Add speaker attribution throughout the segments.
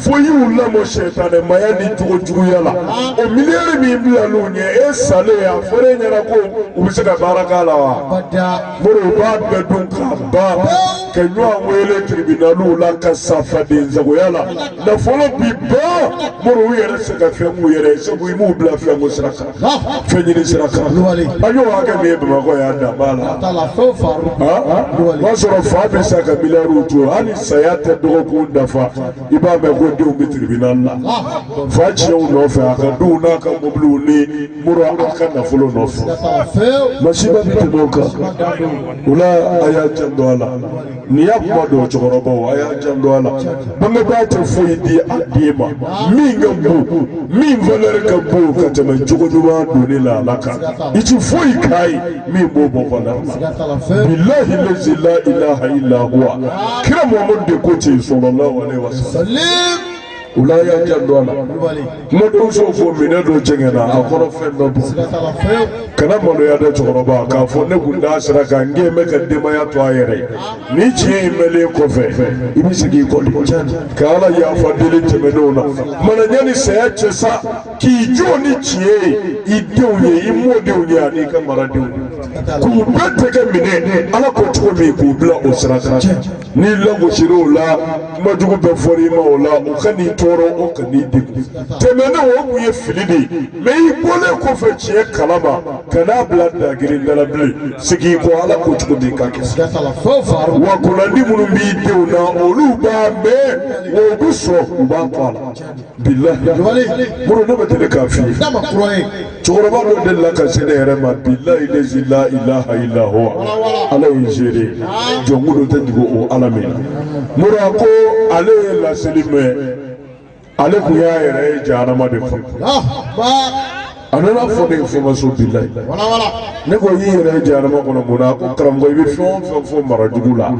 Speaker 1: fo y'u lamɔ sɛtanɛmaya ni jogo juguya la o miliyari min bilalen u ɲɛ e salen a fɔra e ɲɛna ko u bɛ se ka baara k'a la wa mori u b'a bɛɛ dun k'a ban ka ɲɔgɔn wele tiribinaliw la ka sa fadensagoya la nafolo bi ban mori u yɛrɛ tɛ se ka fɛn k'u yɛrɛ ye sabu i m'u bila fɛn ko sira kan. fɛn ɲini sira kan an y'o hakɛ min ye bamakɔ yan dan b'a la o b'a sɔrɔ fa bɛ sa ka miliyariw to hali saya tɛ dɔgɔkun dafa i b'a mɛn ko denw bɛ tiribinali la fa tiɲɛw nɔfɛ a ka duw n'a ka mobiliw ni mura a ka nafolo nɔfɛ masiba bɛ tɛmɛ o kan o la a y'a janto a la. Nin y'a kuma don cɛkɔrɔbaw a y'a janto a la bangebaa tɛ foyi di a den ma min ka bon min valeur ka bon ka tɛmɛ jogo ɲuman donni la Ala kan i tɛ foyi k'a ye min b'o bɔ valeur la bilahi lazi la ilaha illa huwa kira Muhamadu de ko ten sɔlɔlahu alehi wa salim. o la a y'a janto a la kumadenw sɔn fɔ minɛn dɔ jɛngɛnna a kɔnɔfɛn tɔ bɔn kana maloya dɛ cɛkɔrɔba k'a fɔ ne kun t'a sira kan nka n bɛ n ka denbaya to a yɛrɛ ye nin tiɲɛ in mɛnlen kɔfɛ i bɛ segin i kɔ de ka ala yafa deli tɛmɛnenw na mana yanni saya cɛ sa k'i jɔ ni tiɲɛ ye i denw ye i mɔdenw ye ani i ka maradenw k'u bɛɛ tɛgɛ minɛ ala ko cogo min k'u bila o sira kan n'i lagosira o la kuma jugu bɛɛ fɔra i ma o la o kan'i tɔɔrɔ o kan'i degun tɛmɛnen o kun ye fili de ye mɛ i bɔlen kɔfɛ tiɲɛ kalama kan'a bila dagiri dala bilen segin i kɔ ala ko cogo min k'a kɛ wa kunnandi minnu b'i denw na olu b'a mɛn wa u bɛ sɔn u b'a to a la bilahi muru ne bɛ deli k'a f'i ye n'a ma kura ye cɛkɔrɔba dɔ delila ka se ne yɛrɛ ma bilahi lezi la ilaha illa huwa ala ye seere ye jɔn gundo tɛ dogo o ala min na muru a ko ale ye laseli mɛn ale tun y'a yɛrɛ ye jahanama de fɔ. a nana fɔ ne information bilahi ne ko i y'i yɛrɛ ye jahanama kɔnɔ mun na ko karamɔgɔ i bɛ fɛn o fɛn fɔ mara jugu la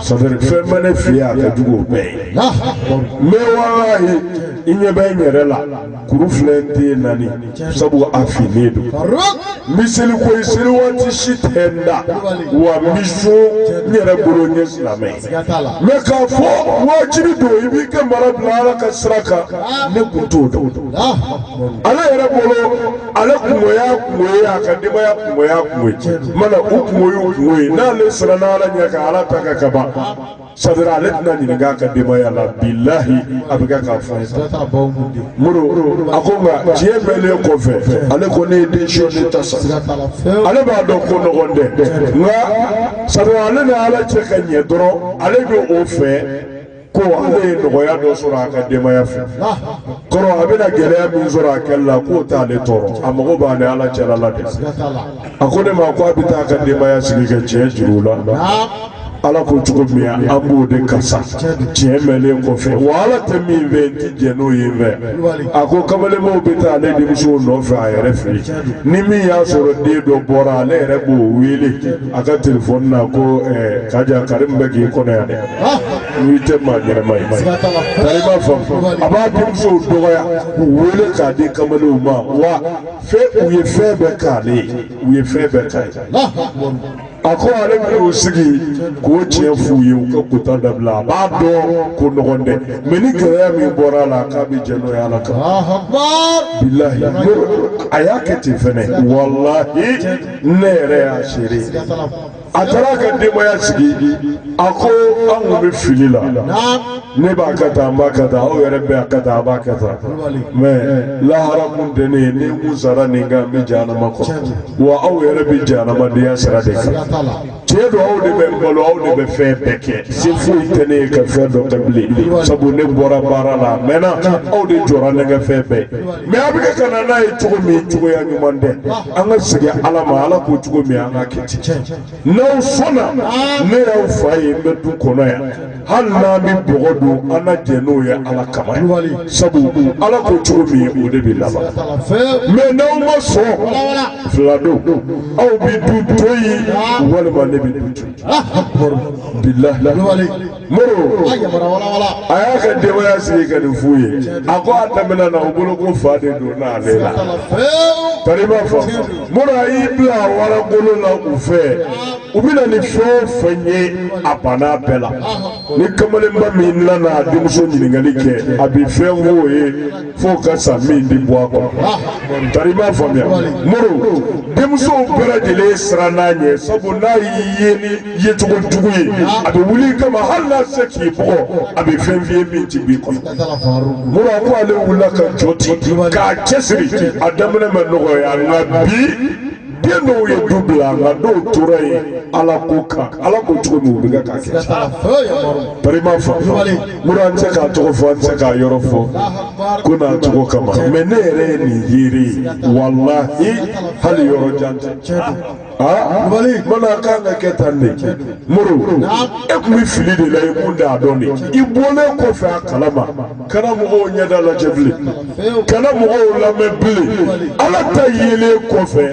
Speaker 1: ça veut dire fɛn min bɛ ne fɛ yen a ka jugu o bɛɛ ye mɛ walahi i ɲɛ bɛ n yɛrɛ la kuru filɛ n ten na nin sabu a finnen don n bɛ seli koyi seli waati si tɛ n dan wa n bɛ sun n yɛrɛ bolo n ye silamɛ ye. siga t'a la mɛ k'a fɔ wajibi don i b'i ka mara bila ala ka sira kan ne kun t'o dɔn ale yɛrɛ bolo ale kunko y'a kunko ye a ka denbaya kunko y'a kunko ye mana u kunko y'u kunko ye n'ale siranna ala ɲɛ ka ala ta kɛ k'a ban sa dɔrɔn ale tɛna ɲininka a ka denbaya la bilahi a bɛ kɛ k'a fɔ ye sa muru a ko nka tiɲɛ mɛnnen kɔfɛ ale ko ne ye leçon in ta sa ale b'a dɔn ko nɔgɔn tɛ nka sabu ale ni ala cɛ ka ɲɛ dɔrɔn ale bɛ o fɛ ko ale ye nɔgɔya dɔ sɔrɔ a ka denbaya fɛ kɔrɔ a bɛna gɛlɛya min sɔrɔ a kɛli la k'o t'ale tɔɔrɔ a mago b'a ni ala cɛla la de a ko ne ma ko a bɛ taa a ka denbaya sigi ka tiɲɛ jir'u la ala ko cogo min an b'o de kɛ sa tiɲɛ mɛnlen kɔfɛ wa ala tɛ min fɛ n ti jɛ n'o ye fɛ a ko kamalenbaw bɛ taa ale denmusow nɔfɛ a yɛrɛ fɛ yen ni min y'a sɔrɔ den dɔ bɔra ale yɛrɛ b'o wele a ka telefɔni na ko eh, kaja kari min bɛ k'i kɔnɔ yan dɛ n'i tɛ maa ɲɛnɛma ye tari i m'a faamu a b'a denmusow dɔgɔya k'u wele k'a di kamalenw ma wa fɛ u ye fɛn bɛɛ k'ale ye u ye fɛn bɛɛ k'a ye a ko ale bɛ o sigi k'o tiɲɛ f'u ye u ka kuta dabila a b'a dɔn ko nɔgɔn tɛ mɛ ni gɛlɛya min bɔra a la k'a bɛ jɛ n'o ye ala kama bilahi a y'a kɛ ten fɛnɛ walahi ne yɛrɛ y'a seere ye a taara ka denbaya sigi a ko an kun bɛ fili la ne b'a kɛ tan an b'a kɛ tan aw yɛrɛ bɛɛ y'a kɛ tan a b'a kɛ tan mɛ lahara kun tɛ ne ye ni n kun sara nin kan n bɛ jahanama kɔnɔ wa aw yɛrɛ bɛ jahanamadenya sira de kan. tiɲɛ don aw de bɛ n balo aw de bɛ fɛn bɛɛ kɛ se foyi tɛ ne ye ka fɛn dɔ kɛ bilen sabu ne bɔra baara la a mɛnna aw de jɔra ne ka fɛn bɛɛ mɛ a bɛ kɛ ka na n'a ye cogo min cogoya ɲuman tɛ an ka segin ala ma ala ko cogo min an ka kɛ ten n'aw sɔnna ne y'aw fa ye n bɛ du kɔnɔ yan hali n'an bɛ bɔgɔ dun an na jɛ n'o ye ala kama sabu ala ko cogo min o de bɛ laban mɛ n'aw ma sɔn fila don aw bɛ du to yen walima ne bɛ du bila muru a y'a ka denbaya sigi ka nin f'u ye a ko a daminɛ na u bolo ko fa de donn'ale la tari i m'a faamu muru a y'i bila wara golo la u fɛ. u bɛ na ni fɛn o fɛn ye a banna bɛɛ la ni kamalenba min nana a denmuso ɲininkali kɛ a bɛ fɛn f'o ye f'o ka sa min ti bɔ a kɔnɔ tari i m'a faamuya muru denmusow bɛɛ lajɛlen siran n'a ɲɛ sabu n'a y'i ye ni yecogo jugu ye a bɛ wuli i kama hali n'a se k'i bugɔ a bɛ fɛn f'i ye min ti b'i kɔnɔ muru a ko ale wulila ka jɔ ten k'a cɛsiri a daminɛ ma nɔgɔya nka bi. den dɔw ye du bila nka dɔw tora yen ala ko kan ala ko cogo min u bɛ kɛ k'a kɛ tari i m'a faamu muru an tɛ k'a tɔgɔ fɔ an tɛ k'a yɔrɔ fɔ ko n'a cogo kama mɛ ne yɛrɛ ye nin seere ye walahi hali yɔrɔ jan tɛ aa mana a kan ka kɛ tan de muru e tun bɛ fili de la i kun t'a dɔn de i bɔlen kɔfɛ a kalama kana mɔgɔw ɲɛda lajɛ bilen kana mɔgɔw lamɛn bilen ala ta yelen kɔfɛ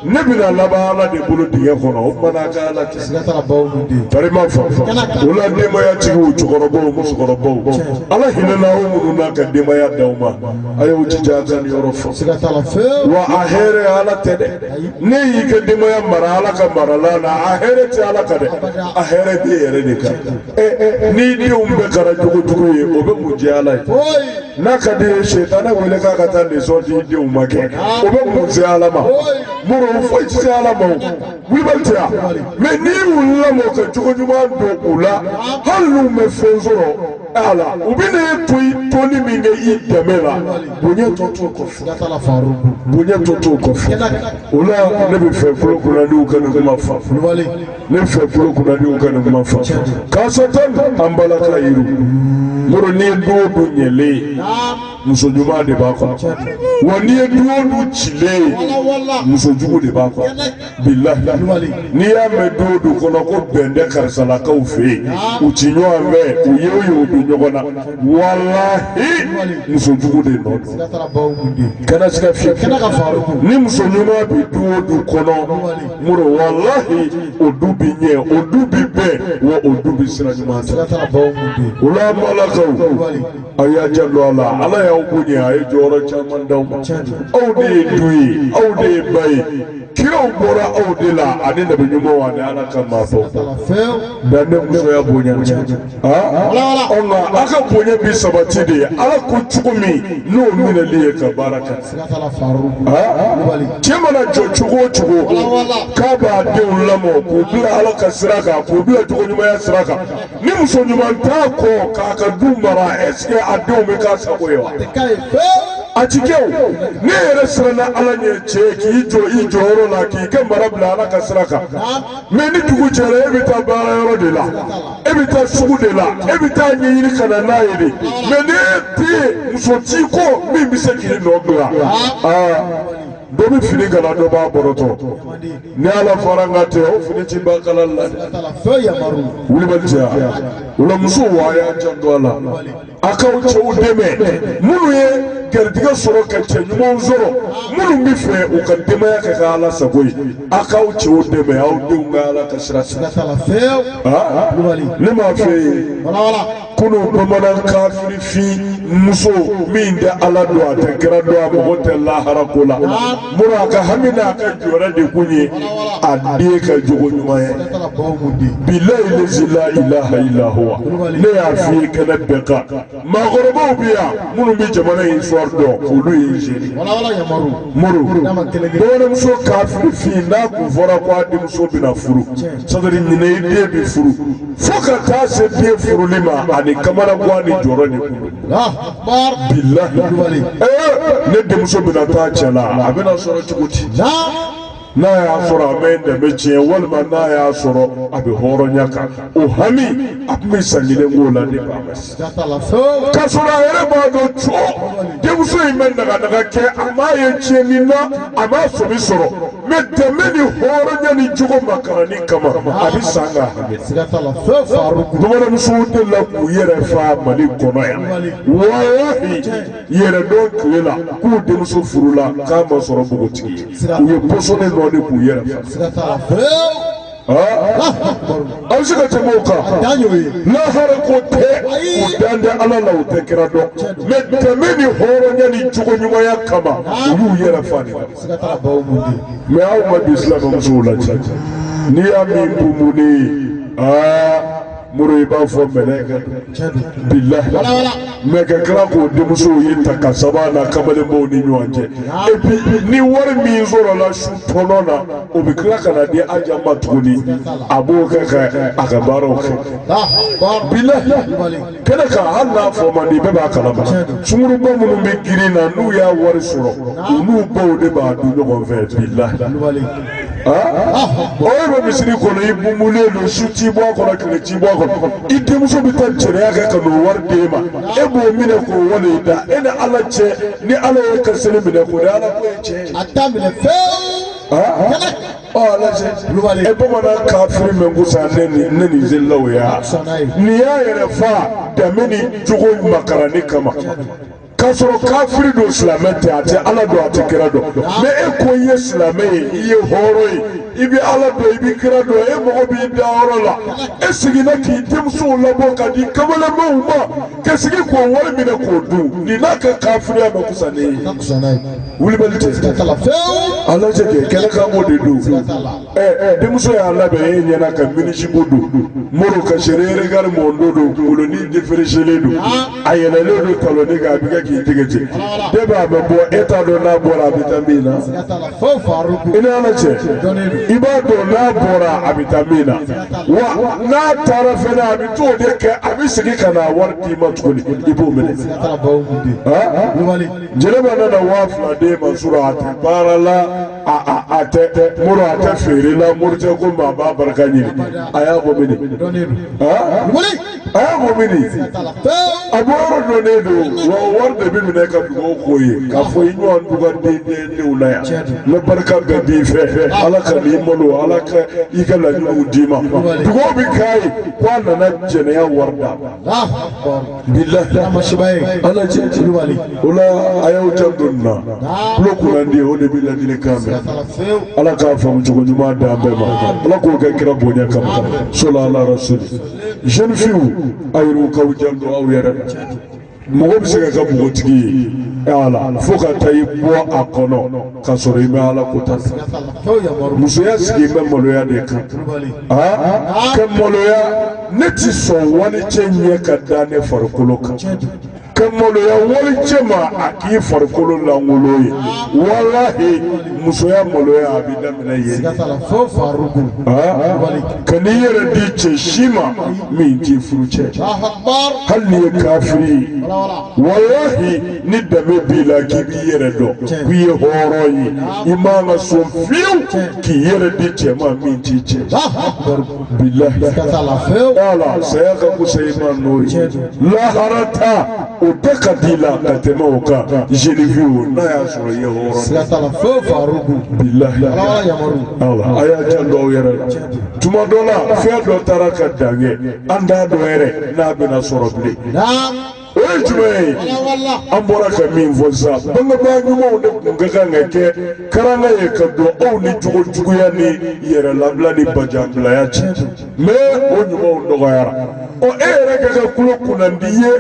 Speaker 1: ne bɛna laban ala de bolo dingɛ kɔnɔ o kumana a ka ala kisi farima fanfa o la denbayatigiw cɛkɔrɔbaw musokɔrɔbaw ala hinɛna aw minnu na ka denbaya d'aw ma a y'aw jija a ka nin yɔrɔ faamu wa a hɛrɛ ala tɛ dɛ n'e y'i ka denbaya mara ala ka mara la na a hɛrɛ tɛ ala kan dɛ a hɛrɛ b'i yɛrɛ de kan n'i denw bɛɛ kɛra jogojugu ye o bɛ mun jɛ ala ye n'a ka d'i ye sitanɛ wele k'a ka taa lesɔn di denw ma kɛ o bɛ mun se ala ma muru foyi tɛ se ala ma o wulibali tɛ yan mɛ n'i y'u lamɔ ka jogo ɲuman don u la hali n'u bɛ fɛn sɔrɔ a la u bɛ ne to i toli min kɛ i dɛmɛ la bonya tɔ t'o kɔfɛ bonya tɔ t'o kɔfɛ o la ne b'a fɛ kulu kunadiw ka nin kuma faamu. ne b'a fɛ kulu kunadiw ka nin kuma faamu kaasatan an balaka yiru mɔrɔ n'i ye du o du ɲɛlen ye muso ɲuman de b'a kɔnɔ wa n'i ye du o du cilen ye muso jugu de b'a kɔnɔ bilahi n'i y'a mɛn du o du kɔnɔ ko bɛn tɛ karisalakaw fɛ yen u ti ɲɔgɔn fɛ u ye o ye u bɛ ɲɔgɔn na walahi muso jugu de nɔ don kana sika fewu ni muso ɲuman bɛ du o du kɔnɔ moro walahi o du bi ɲɛ o du bi bɛn wa o du bi sira ɲuman ta sira t'a baw mun bɛ yen o la balakaw aw y'a janto a la ala y'aw bonya a ye jɔyɔrɔ caman d'aw ma aw de ye du ye aw de ye ba ye kiraw bɔra aw de la ani nabi ɲumanw ani ala ka maabaw fɛn dan ne musoya bonya o nka aw ka bonya bi sabati de ala ko cogo min n'o minɛli ye ka baara kɛ cɛ mana jɔ cogo o cogo k'a b'a denw lamɔ k'u bila ala ka sira kan k'u bila jogo ɲumanya sira kan ni muso ɲuman t'a kɔ k'a ka du mara esikɛ a denw bɛ k'a sago ye wa. a ti kɛ o ne yɛrɛ siranna ala ɲɛ cɛ k'i jɔ i jɔyɔrɔ la k'i ka mara bila ala ka sira kan mɛ ni dugu jɛra e bɛ taa baara yɔrɔ de la e bɛ taa sugu de la e bɛ taa ɲinini ka na n'a ye de mɛ ni e tɛ yen muso t'i kɔ min bɛ se k'i nɔ bila aa dɔ bɛ fini kala dɔ b'a bɔrɔtɔ ni ala fara n ka tɛ o fini ti ban kala la dɛ wulibali cɛya o la muso wa a y'a janto a la. a k'aw cɛw dɛmɛ minnu ye garijɛgɛ sɔrɔ ka cɛ ɲumanw sɔrɔ minnu b'a fɛ u ka denbaya kɛ ka ala sago ye a k'aw cɛw dɛmɛ aw denw ka ala ka sira sika t'a la fewu ne m'a f'i ye kunun bamanan kafirifin muso min tɛ ala don a tɛ kira don a mago tɛ lahara ko la mura ka hami n'a ka jɔrɔ de kun ye a den ka jogo ɲuman ye bilayi lezi la ilaha ila huwa ne y'a f'i ye kɛnɛ bɛɛ kan maakɔrɔbaw bɛ yan minnu bɛ jamana in histoire dɔn olu ye n seere muru bamananmuso kafiri fin n'a tun fɔra ko a denmuso bɛna furu sadiri ɲinɛ i den bɛ furu fo ka taa se den furuli ma ani kamanagwan ni jɔrɔ de kun ne denmuso bɛna taa cɛ la a bɛna sɔrɔ cogo di n'a y'a sɔrɔ a bɛ danbe tiɲɛ walima n'a y'a sɔrɔ a bɛ hɔrɔnya kan o hami a tun bɛ san kelen k'o la ne ba ma se k'a sɔrɔ a yɛrɛ b'a dɔn cɔ denmuso in bɛ naganaga kɛ a m'a ye tiɲɛni na a m'a faamu sɔrɔ mɛ danbe ni hɔrɔnya ni jogo makaranni kama a bɛ san ka hami bamananmusow de la k'u yɛrɛ fa mali kɔnɔ yan walahi yɛrɛdɔn tile la k'u denmuso furula k'a ma sɔrɔ npogotigi ye u ye pɔsɔni nɔn de k'u yɛrɛ fa. aw se ka tɛmɛ o kan lahara ko tɛ u dan tɛ ala la u tɛ kira dɔn mɛ danbe ni hɔrɔnya ni jogo ɲumanya kama u y'u yɛrɛ fa de mɛ anw ka bi silamɛmusow la n'i y'a min bumunen aa mori i b'a fɔ mɛlɛka bilahi mɛ ka tila k'o denmusow ye ta ka saba na kamalenbaw ni ɲɔgɔn cɛ et puis ni wari min sɔrɔla su tɔnɔ na o bɛ tila ka n'a di aja ma tuguni a b'o kɛ ka a ka baaraw kɛ bilahi kɛnɛ kan hali n'a fɔ man di bɛɛ b'a kalama sungurunba minnu bɛ girin na n'u y'a wari sɔrɔ u n'u baw de b'a dun ɲɔgɔn fɛ bilahi. o ye bɛ misiri kɔnɔ i bumulen don su t'i bɔ a kɔnɔ tile t'i bɔ a kɔnɔ i denmuso bɛ taa jɛnɛya kɛ ka n'o wari d'e ma e b'o minɛ k'o wale i da e ni ala cɛ ni ala y'e ka seli minɛ k'o de ala ko ye tiɲɛ ye. a t'a minɛ fewu. kulubali e bamanan kafiri man kusa ne ni ne ni selilaw ya nin y'a yɛrɛ fa danbe ni jogo makaranni kama k'a sɔrɔ kafiri don silamɛ tɛ a tɛ ala dɔn a tɛ kira dɔn mɛ e ko i ye silamɛ ye i ye hɔrɔn ye i bɛ ala dɔn i bɛ kira dɔn e mago b'i dayɔrɔ la e seginna k'i denmusow labɔ ka di kamalenbaw ma ka segin k'o wari minɛ k'o dun nin n'a ka kafiriya man kusa ne ye kulubali tɛ ala cɛ kɛ kɛnɛ kan o de don. e denmuso y'a labɛn e ɲɛ na ka minizipu don mori ka seereerekari mɔndo don kunkolonin defereselen don a yɛlɛlen don talɔnnin kan a bɛ kɛ k'i tɛgɛ cɛ ne b'a bɛ bɔ e t'a dɔn n'a bɔra a bɛ taa min na i ni ala cɛ i b'a dɔn n'a bɔra a bɛ taa min na wa n'a taara fɛnɛ a bɛ t'o de kɛ a bɛ segin ka na wari d'i ma tuguni i b'o minɛ jɛnɛba nana waa fila d'e ma sɔrɔ a tɛ baara la. a tɛ mori a tɛ feere la mori tɛ ko maa b'a barika ɲini a y'a ko mini a y'a ko mini a bɔ yɔrɔ dɔnnen don wa wari de bɛ minɛ ka dugawu k'o ye k'a fɔ i ɲɔgɔn dugaden denw la yan n bɛ barika bɛɛ d'i fɛ ala kana i malo ala ka i ka laɲiniw d'i ma dugawu bɛ k'a ye ko a nana jɛnɛya wari d'a ma. bilahi masiba ye ala cɛ kulubali o la a y'aw janto n na tulo kunnandi o de bɛ ladilikan mɛn ala k'a faamu cogo ɲuman d'an bɛɛ ma ala k'o kɛ kira bonya kama solu ala rasulu jeune fiw a yɛrɛw k'aw janto aw yɛrɛ la mɔgɔ bɛ se ka kɛ npogotigiya la fo ka taa i bɔ a kɔnɔ ka sɔrɔ i ma ala ko ta fɛ musoya sigi bɛ maloya de kan aa kɛ maloya ne tɛ sɔn walicɛ ɲɛ ka da ne farikolo kan ka maloya walicɛ ma a k'i farikolo lankolon ye walahi musoya maloya a bɛ daminɛ yen kana i yɛrɛ di cɛ si ma min t'i furu cɛ hali n'i ye kafiri ye walahi ni danbe b'i la k'i b'i yɛrɛ dɔn k'i ye hɔrɔn ye i man ka sɔn fiyewu k'i yɛrɛ di cɛ ma min t'i cɛ. ka t'a la fewu wala saya ka kusa i ma n'o ye lahara ta o bɛɛ ka di i la ka tɛmɛ o kan jeune fiw n'a y'a sɔrɔ i ye hɔrɔn siga t'a la fewu faruku bilahi ala wala yamaru wala a y'aw janto aw yɛrɛ la tuma dɔ la fɛn dɔ taara ka dan kɛ an t'a dɔn yɛrɛ n'a bɛna sɔrɔ bilen. na o ye jumɛn ye an bɔra ka min fɔ sisan bangebaa ɲumanw de tun ka kan ka kɛ karanga ye ka don aw ni jogo juguya ni yɛrɛ labila ni bajanbilaya cɛ mɛ o ɲumanw dɔgɔyara ɔ e yɛrɛ ka kɛ tulo kunnandi ye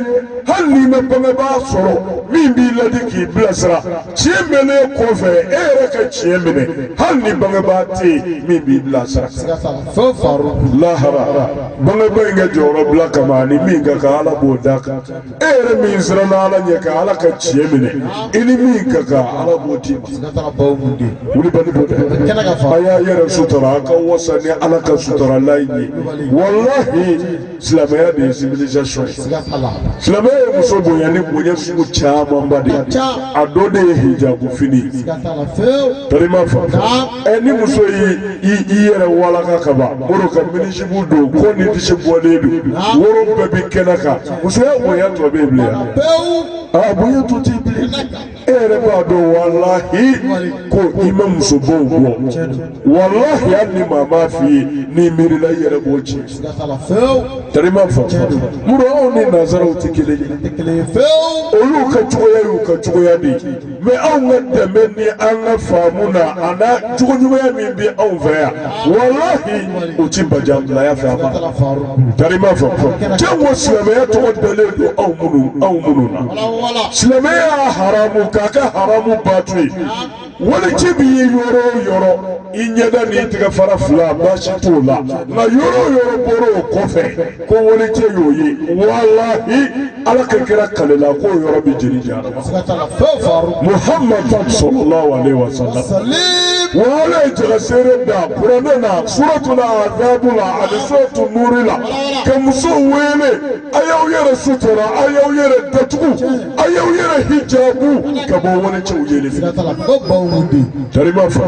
Speaker 1: hali n'i ma bangebaa sɔrɔ min b'i ladi k'i bilasira tiɲɛ mɛnnen kɔfɛ e yɛrɛ ka tiɲɛ minɛ hali ni bangebaa tɛ yen min b'i bilasira fɛn faru lahara bangebaa in ka jɔyɔrɔ bila kama ani min ka kan ala b'o d'a kan e yɛrɛ min siranna ala ɲɛ ka ala ka tiɲɛ minɛ i ni min ka kan ala b'o d'i ma siga t'a la baw mun de wulibali b'o dɛ kɛnɛ ka fa a y'aw yɛrɛ sutura a ka wasa ni ala ka suturalan in ye walahi silamɛya de ye civilisation ye siga t'a la silamɛya ye muso bonya ni bonya sugu camanba de ye a dɔ de ye hijabu fini ye siga t'a la fewu tari ma fa ɛ ni muso y'i i i yɛrɛ walaka ka ban o de ka minizipu don kɔ ni disi bɔlen don woro bɛɛ bi kɛnɛ kan musoya bonya tɔ bɛ yen bilen wa? pewu aa bonya tɔ t'i bilen e yɛrɛ b'a dɔn walahi ko i ma musobaw bɔ walahi hali ni maa m'a f'i ye n'i miirila i yɛrɛ b'o ci tari ma fa mun na anw ni nanzaraw tɛ kelen ye olu ka cogoya y'u ka cogoya de ye mɛ anw ka dɛmɛ ni an ka faamu na a n'a jogo ɲumanya min bɛ anw fɛ yan walahi o ti bajanbilaya fɛ a ma tari ma fa jango silamɛya tɔgɔ dalen don anw minnu anw minnu na silamɛya y'a haramu k'a kɛ haramu baatu ye wali cɛ b'i ye yɔrɔ o yɔrɔ i ɲɛda n'i tɛgɛ fara fila baasi t'o la nka yɔrɔ o yɔrɔ bɔra o kɔfɛ ko wali cɛ y'o ye walahi ala ka kira kalela k'o yɔrɔ bɛ jeni jahanama muhamadu salalahu aleyi wa sala wa ala ye jagaseere da kuranɛ na suratu la azabu la ani suratu nuri la ka musow wele a y'aw yɛrɛ sutura a y'aw yɛrɛ datugu a y'aw yɛrɛ hijabu ka bɔ wali cɛw yeli fɛ tari ma fa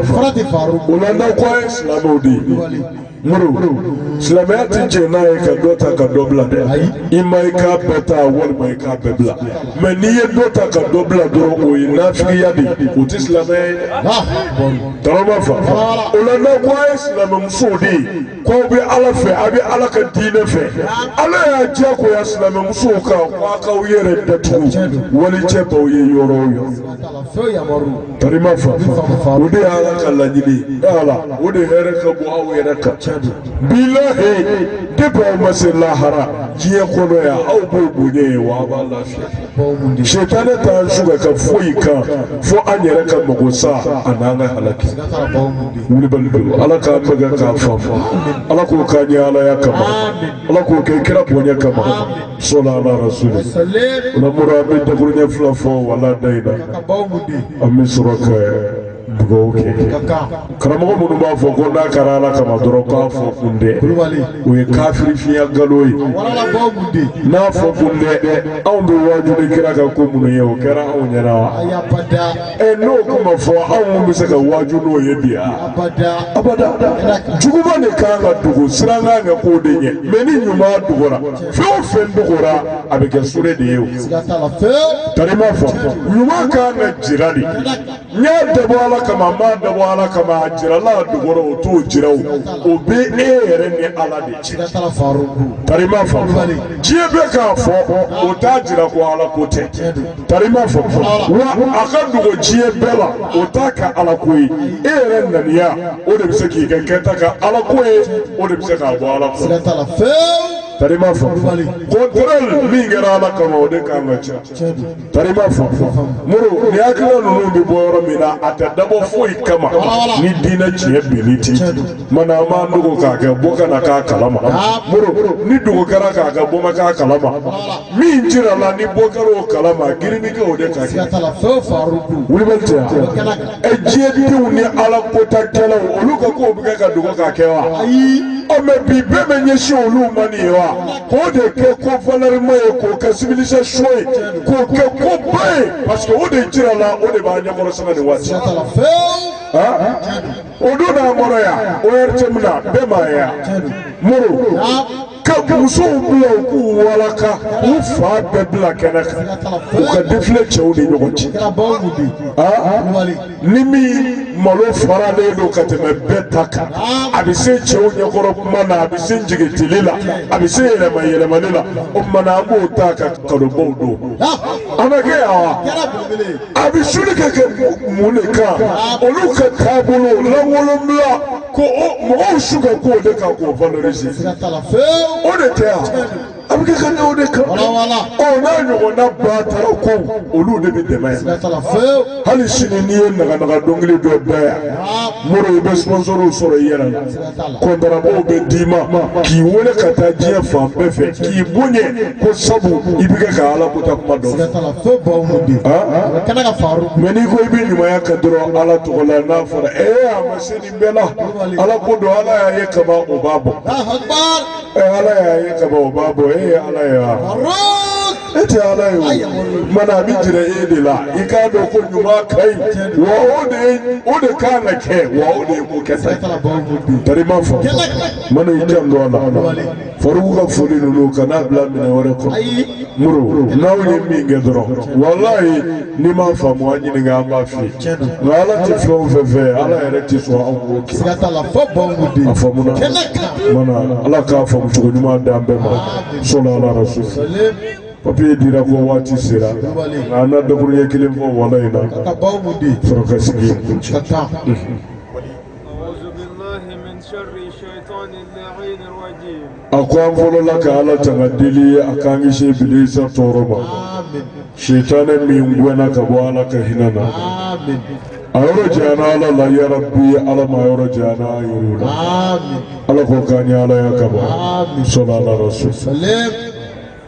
Speaker 1: o la n'aw ko a ye silamɛw de ye muru silamɛya tɛ jɛn n'a ye ka dɔ ta ka dɔ bila dɛ i ma i k'a bɛɛ ta walima i k'a bɛɛ bila mɛ n'i ye dɔ ta ka dɔ bila dɔrɔn o ye nafigiya de ye o tɛ silamɛya ye tari ma fa o la n'aw ko a ye silamɛmusow de ye k'aw bɛ ala fɛ a bɛ ala ka diinɛ fɛ ala y'a diyagoya silamɛmusow kan k'aw k'aw yɛrɛ datugu wali cɛ b'aw ye yɔrɔ o yɔrɔ. Tari ma fa o de y'ala ka laɲini ala o de hɛrɛ ka bon aw yɛrɛ ka ca di bilahi de b'aw ma se lahara diɲɛ kɔnɔ yan aw b'o bonya ye wa aw b'a lafiya setanɛ t'an su ka ka foyi kan fo an yɛrɛ ka mago sa a n'an ka halaki wulibali don ala k'a bɛɛ kɛ k'a fa ala k'o k'a yɛrɛ alaya kama ala k'o kɛ kira bonya kama sala ala rasuli o la mura an bɛ dakuruɲɛ fila fɔ wala da in na an bɛ sɔrɔ ka dugawu kɛ karamɔgɔ minnu b'a fɔ ko n'a kɛra ala kama dɔrɔn k'a fɔ kun tɛ o ye kafiri fiɲɛ nkalon ye n'a fɔ kun tɛ anw bɛ waju ni kira ka ko minnu ye o kɛra anw ɲɛna wa ɛ n'o kun ma fɔ anw minnu bɛ se ka waju n'o ye bi wa abada juguman de kan ka dogo siran kan ka k'o de ɲɛ mɛ ni ɲuman dogora fɛn o fɛn dogora a bɛ kɛ sure de ye o tari ma fɔ ɲuman kan ka jira de n'i y'a dabɔ ala kama n'i m'a dabɔ ala kama a jirala a dogora o t'o jira o o bɛ e yɛrɛ ni ala de cɛ tari ma fɔ diɲɛ bɛɛ k'a fɔ o t'a jira ko ala ko tɛ tarima fɔ wa a ka dogo diɲɛ bɛɛ la o t'a kɛ alako ye e yɛrɛ naniya o de bɛ se k'i ka kɛta kɛ alako ye o de bɛ se k'a bɔ ala ko siga t'a la fewu tarima fɔ kɔntɛrɛli min kɛra ala kama o de kan ka ca tiɲɛ don tarima fɔ muru ni hakilina ninnu bɛ bɔ yɔrɔ min na a tɛ dabɔ foyi kama ni diinɛ tiɲɛ bɛnni tɛ mana an b'an dogo k'a kɛ mɔgɔ kana k'a kalama muru ni dogo kɛra k'a kɛ mɔgɔ ma k'a kalama min jirala ni mɔgɔ kɛra o kala ma girinni kɛ o de ka kɛ tala fɛn faru dun wulibali tɛ yan kɛnɛ kan ɛ diɲɛdenw ni ala kɔntakɛlaw olu ka kow bɛ kɛ ka dogo ka kɛ wa ayi ɔ mɛ bi bɛɛ bɛ ɲɛsin olu ma nin ye wa k'o de kɛ ko valɛrima ye k'o kɛ civilisation ye k'o kɛ ko ba ye parce que o de jirala o de b'a ɲɛkɔrɔ sɛbɛn nin waati sera tala fɛn Ah, o don n'a mɔrɔ yan o yɛrɛ cɛ min na bɛɛ ma ye yan moro ka musow bila u k'u walaka u fan bɛɛ bila kɛnɛ kan u ka defile cɛw ni ɲɔgɔn cɛ ni min malo faralen don ka tɛmɛ bɛɛ ta kan a bɛ se cɛw ɲɛkɔrɔ kuma na a bɛ se jigintigili la a bɛ se yɛlɛma yɛlɛmani la o tuma na an b'o ta ka kanubaw don a bɛ kɛ yan wa a bɛ suli ka kɛ mun de kan olu ka taabolo lankolonbila ko mɔgɔw su ka k'o de kan k'o valoriser o de tɛ yan a bɛ kɛ ka ɲɛ o de kan o n'a ɲɔgɔnna batara ko olu de bɛ dɛmɛ yan hali sini n'i ye naganaga dɔnkili dɔ da yan moro i bɛ sponsorw sɔrɔ i yɛrɛ la kɔntarabaw bɛ d'i ma k'i wele ka taa diɲɛ fan bɛɛ fɛ k'i bonya ko sabu i bɛ kɛ ka ala kɔnta kuma don mɛ n'i ko i bɛ ɲumanya kɛ dɔrɔn ala tɔgɔ la n'a fɔra ee a ma sani bɛɛ la ala ko don ala y'a ye kaban o b'a bɔ ɛ ala y'a ye kaban o b'a bɔ e ye ala ye wa e tɛ ala ye o mana a bɛ jira e de la i k'a dɔn ko ɲuman ka ɲi wa o de ye o de kan ka kɛ wa o de ye ko kɛta ye tari ma fɔ mana i janto a la. Farouk ka foli ninnu kana bila minɛn wɛrɛ kɔnɔ muru n'aw ye min kɛ dɔrɔn walayi n'i m'a faamu an ɲininka an b'a f'i ye nka ala tɛ fɛn o fɛn fɛ ala yɛrɛ tɛ sɔn anw k'o kɛ siga t'a la fɔ baw b'u den a faamu na kɛnɛ kan mana ala k'a faamu cogo ɲuman d'an bɛɛ ma sɔlɔ ala rasul papiye dira ko waati sera nka an na daburuɲɛ kelen fɔ wala in na ka baw b'u den sɔrɔ ka sigi ka taa a ko an fɔlɔla ka ala tanga deli a k'an kisi bilisa tɔɔrɔ ma sitanɛ min gɛnna ka bɔ ala ka hinɛ na a yɔrɔ janyana ala la yarabi ala m'a yɔrɔ janyana an yɛrɛ la ala k'o k'an ye alaya kama sɔlala rasul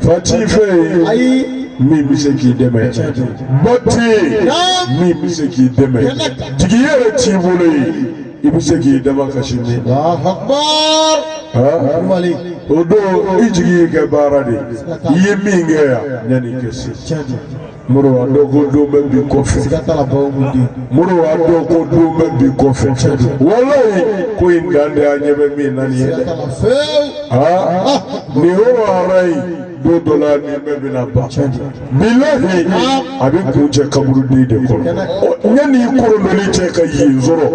Speaker 1: Fa t'i fɛ yen ayi min bɛ se k'i dɛmɛ ba tɛ yen min bɛ se k'i dɛmɛ jigi yɛrɛ t'i bolo yen i bɛ se k'i da min kan sini o don i jigi y'i ka baara de i ye min kɛ yan yanni i ka se muru wa dɔw ko don bɛ bi kɔfɛ siga t'a la bawo ko den muru wa dɔw ko don bɛ bi kɔfɛ cɛ don walayi ko in dan tɛ an ɲɛ bɛ min na nin ye siga dɛ t'a la fewu aa nin yɔrɔ walayi don dɔ la nin bɛɛ bɛna ban bilahi a bɛ kuncɛ kaburuden de kɔnɔ Ɔ, yanni i korodɔli cɛ ka yen sɔrɔ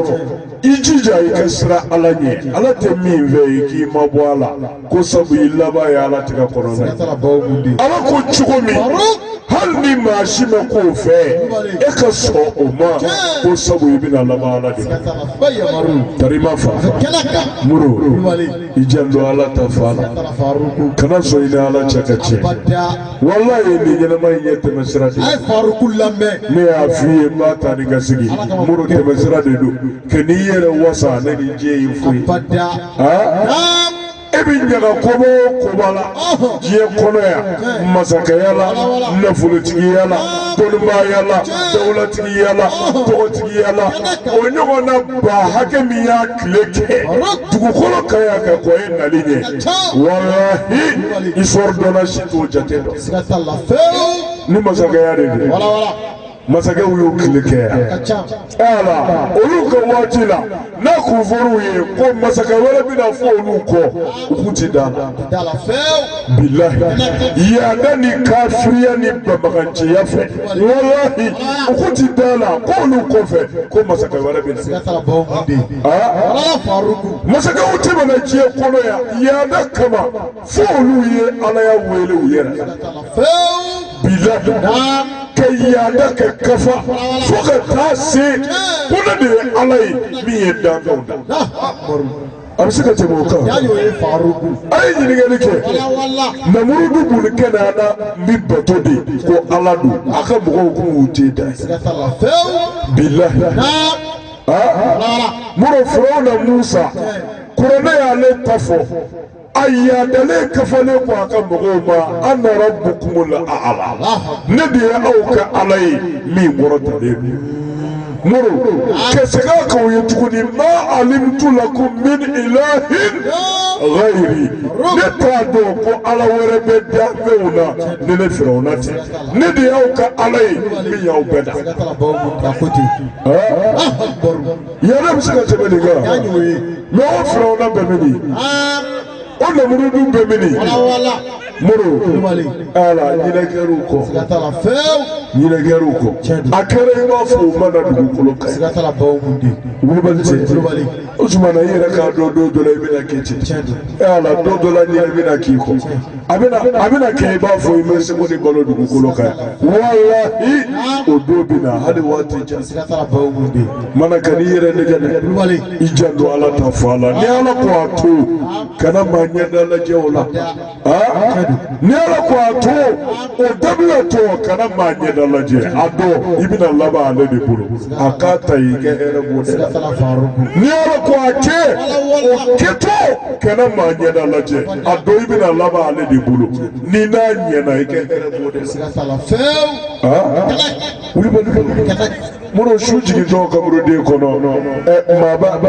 Speaker 1: i jija i ka siran ala ɲɛ ala tɛ min fɛ i k'i mabɔ a la ko sabu i laban ye ala tigɛ kɔnɔna ala ko cogo min hali ni maa si ma k'o fɛ e ka sɔn o ma ko sabu i bɛna laban ala de tari ma fa muru i janto ala ta fan la kana sɔn i ni ala cɛ ka tiɲɛ walayi nin ɲɛnamaya in ye tɛmɛsira de ye ne y'a f'i ye n b'a ta ni ka sigi muru tɛmɛsira de don kan'i yɛrɛ wasa ni nin diɲɛ in foyi e bɛ ɲaga koba o koba la diɲɛ kɔnɔ yan masakɛya la nafolotigiya la dɔnnibaaya la dawulatigiya la tɔgɔtigiya la o ɲɔgɔnna ba hakɛ min y'a tile kɛ dugukolo kan yan ka kɔn e nali ɲɛ walahi histoire dɔnna si t'o jate dɔn ni masakɛya de don. masakɛw y'u tile kɛ ala olu ka waati la n'a kun fɔr'u ye ko masakɛ wɛrɛ bɛna fɔ olu kɔ u kun ti d'a la bilahi yaada ni kafiriya ni banbaganciya fɛ walahi u kun ti d'a la ko olu kɔfɛ ko masakɛ wɛrɛ bɛna masakɛw tɛmɛna diɲɛ kɔnɔ yan yaada kama fo olu ye alaya wele u yɛrɛ la bila ka yaada ka kafa fo ka taa se ko ne de ye ala ye min ye danfɛnw da a bɛ se ka tɛmɛ o kan a ye ɲininkali kɛ namurudu buni kanaana bɛ bato de ko ala don a ka mɔgɔw ko u tɛ da bila muru firawuna musa kuranɛ y'ale ta fɔ a yadalen kafalen ko a ka mɔgɔw ma ana rabbukumul ala ne de ye aw ka ala ye min kɔrɔtalen don muru ka segin k'aw ye tuguni ma alimtu lakum min ilahin ghayri ne t'a dɔn ko ala wɛrɛ bɛ danfɛnw na ni ne firawuna tɛ ne de y'aw ka ala ye min y'aw bɛɛ dan. yɛlɛ bɛ se ka tɛmɛ nin kan mɛ o firawuna bɛ mini o nɛmurudu bɛ mini moro ala ɲinɛ kɛra u kɔ ɲinɛ kɛra u kɔ a kɛra i b'a fɔ o ma na dugukolo kan kulubali tɛ o tuma na i yɛrɛ k'a dɔn don dɔ la i bɛna kɛ ten ala don dɔ la ɲinɛ bɛna k'i kɔ. a bɛna a bɛna kɛ i b'a fɔ i ma sekɔndi balo dugukolo kan walahi o don bɛ na hali waati jan siga t'a la bawo mun bɛ yen maa kana i yɛrɛ nɛgɛn dɛ kulubali i janto ala ta fan na ni ala ko a to kana maa ɲɛda lajɛ o la aa ni ala ko a to o dabilatɔ kana maa ɲɛda lajɛ a dɔn i bɛna laban ale de bolo a ko a to i ka hɛrɛ b'o de la n'i y'a dɔn ko a kɛ o kɛtɔ kana maa ɲɛda lajɛ a dɔn i bɛna laban ale de bolo ni n'a ɲɛna i ka hɛrɛ b'o de la. minnu su jigintɔ kaburuden kɔnɔ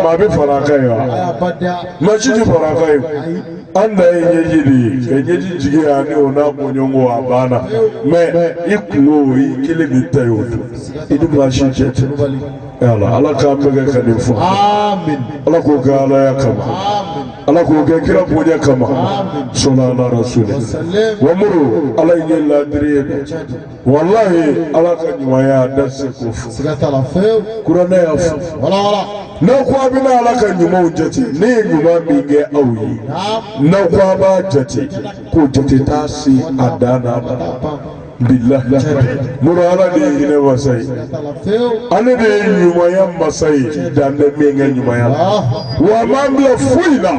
Speaker 1: maa bɛ fara a kan yan maa si tɛ fara a kan yen. an dan ye ɲɛji de ye ka ɲɛji jigin yan ni o n'a bɔɲɔgɔnko a banna mɛ i kunko i kelen de ta ye o don i ni maa si cɛ tɛ ala ala k'an bɛɛ kɛ ka nin fɔ ala k'o kɛ alaya kama ala k'o kɛ kira bonya kama sɔnna ala rasuli wa muru ala ye ɲɛ laadiri ye dɛ walahi ala ka ɲumanya an tɛ se k'o fɔ siga t'a la fewu kuranɛ y'a fɔ wala wala n'aw ko a bɛna ala ka ɲumanw jate ne ye ɲuman min kɛ aw ye naam n'aw ko a b'a jate k'o jate t'a se a dan na bilahi muru ala de ye hinɛ masa ye siga t'a la fewu ale de ye ɲumanya masa ye dan tɛ min ka ɲumanya la ah wa a m'an bila foyi la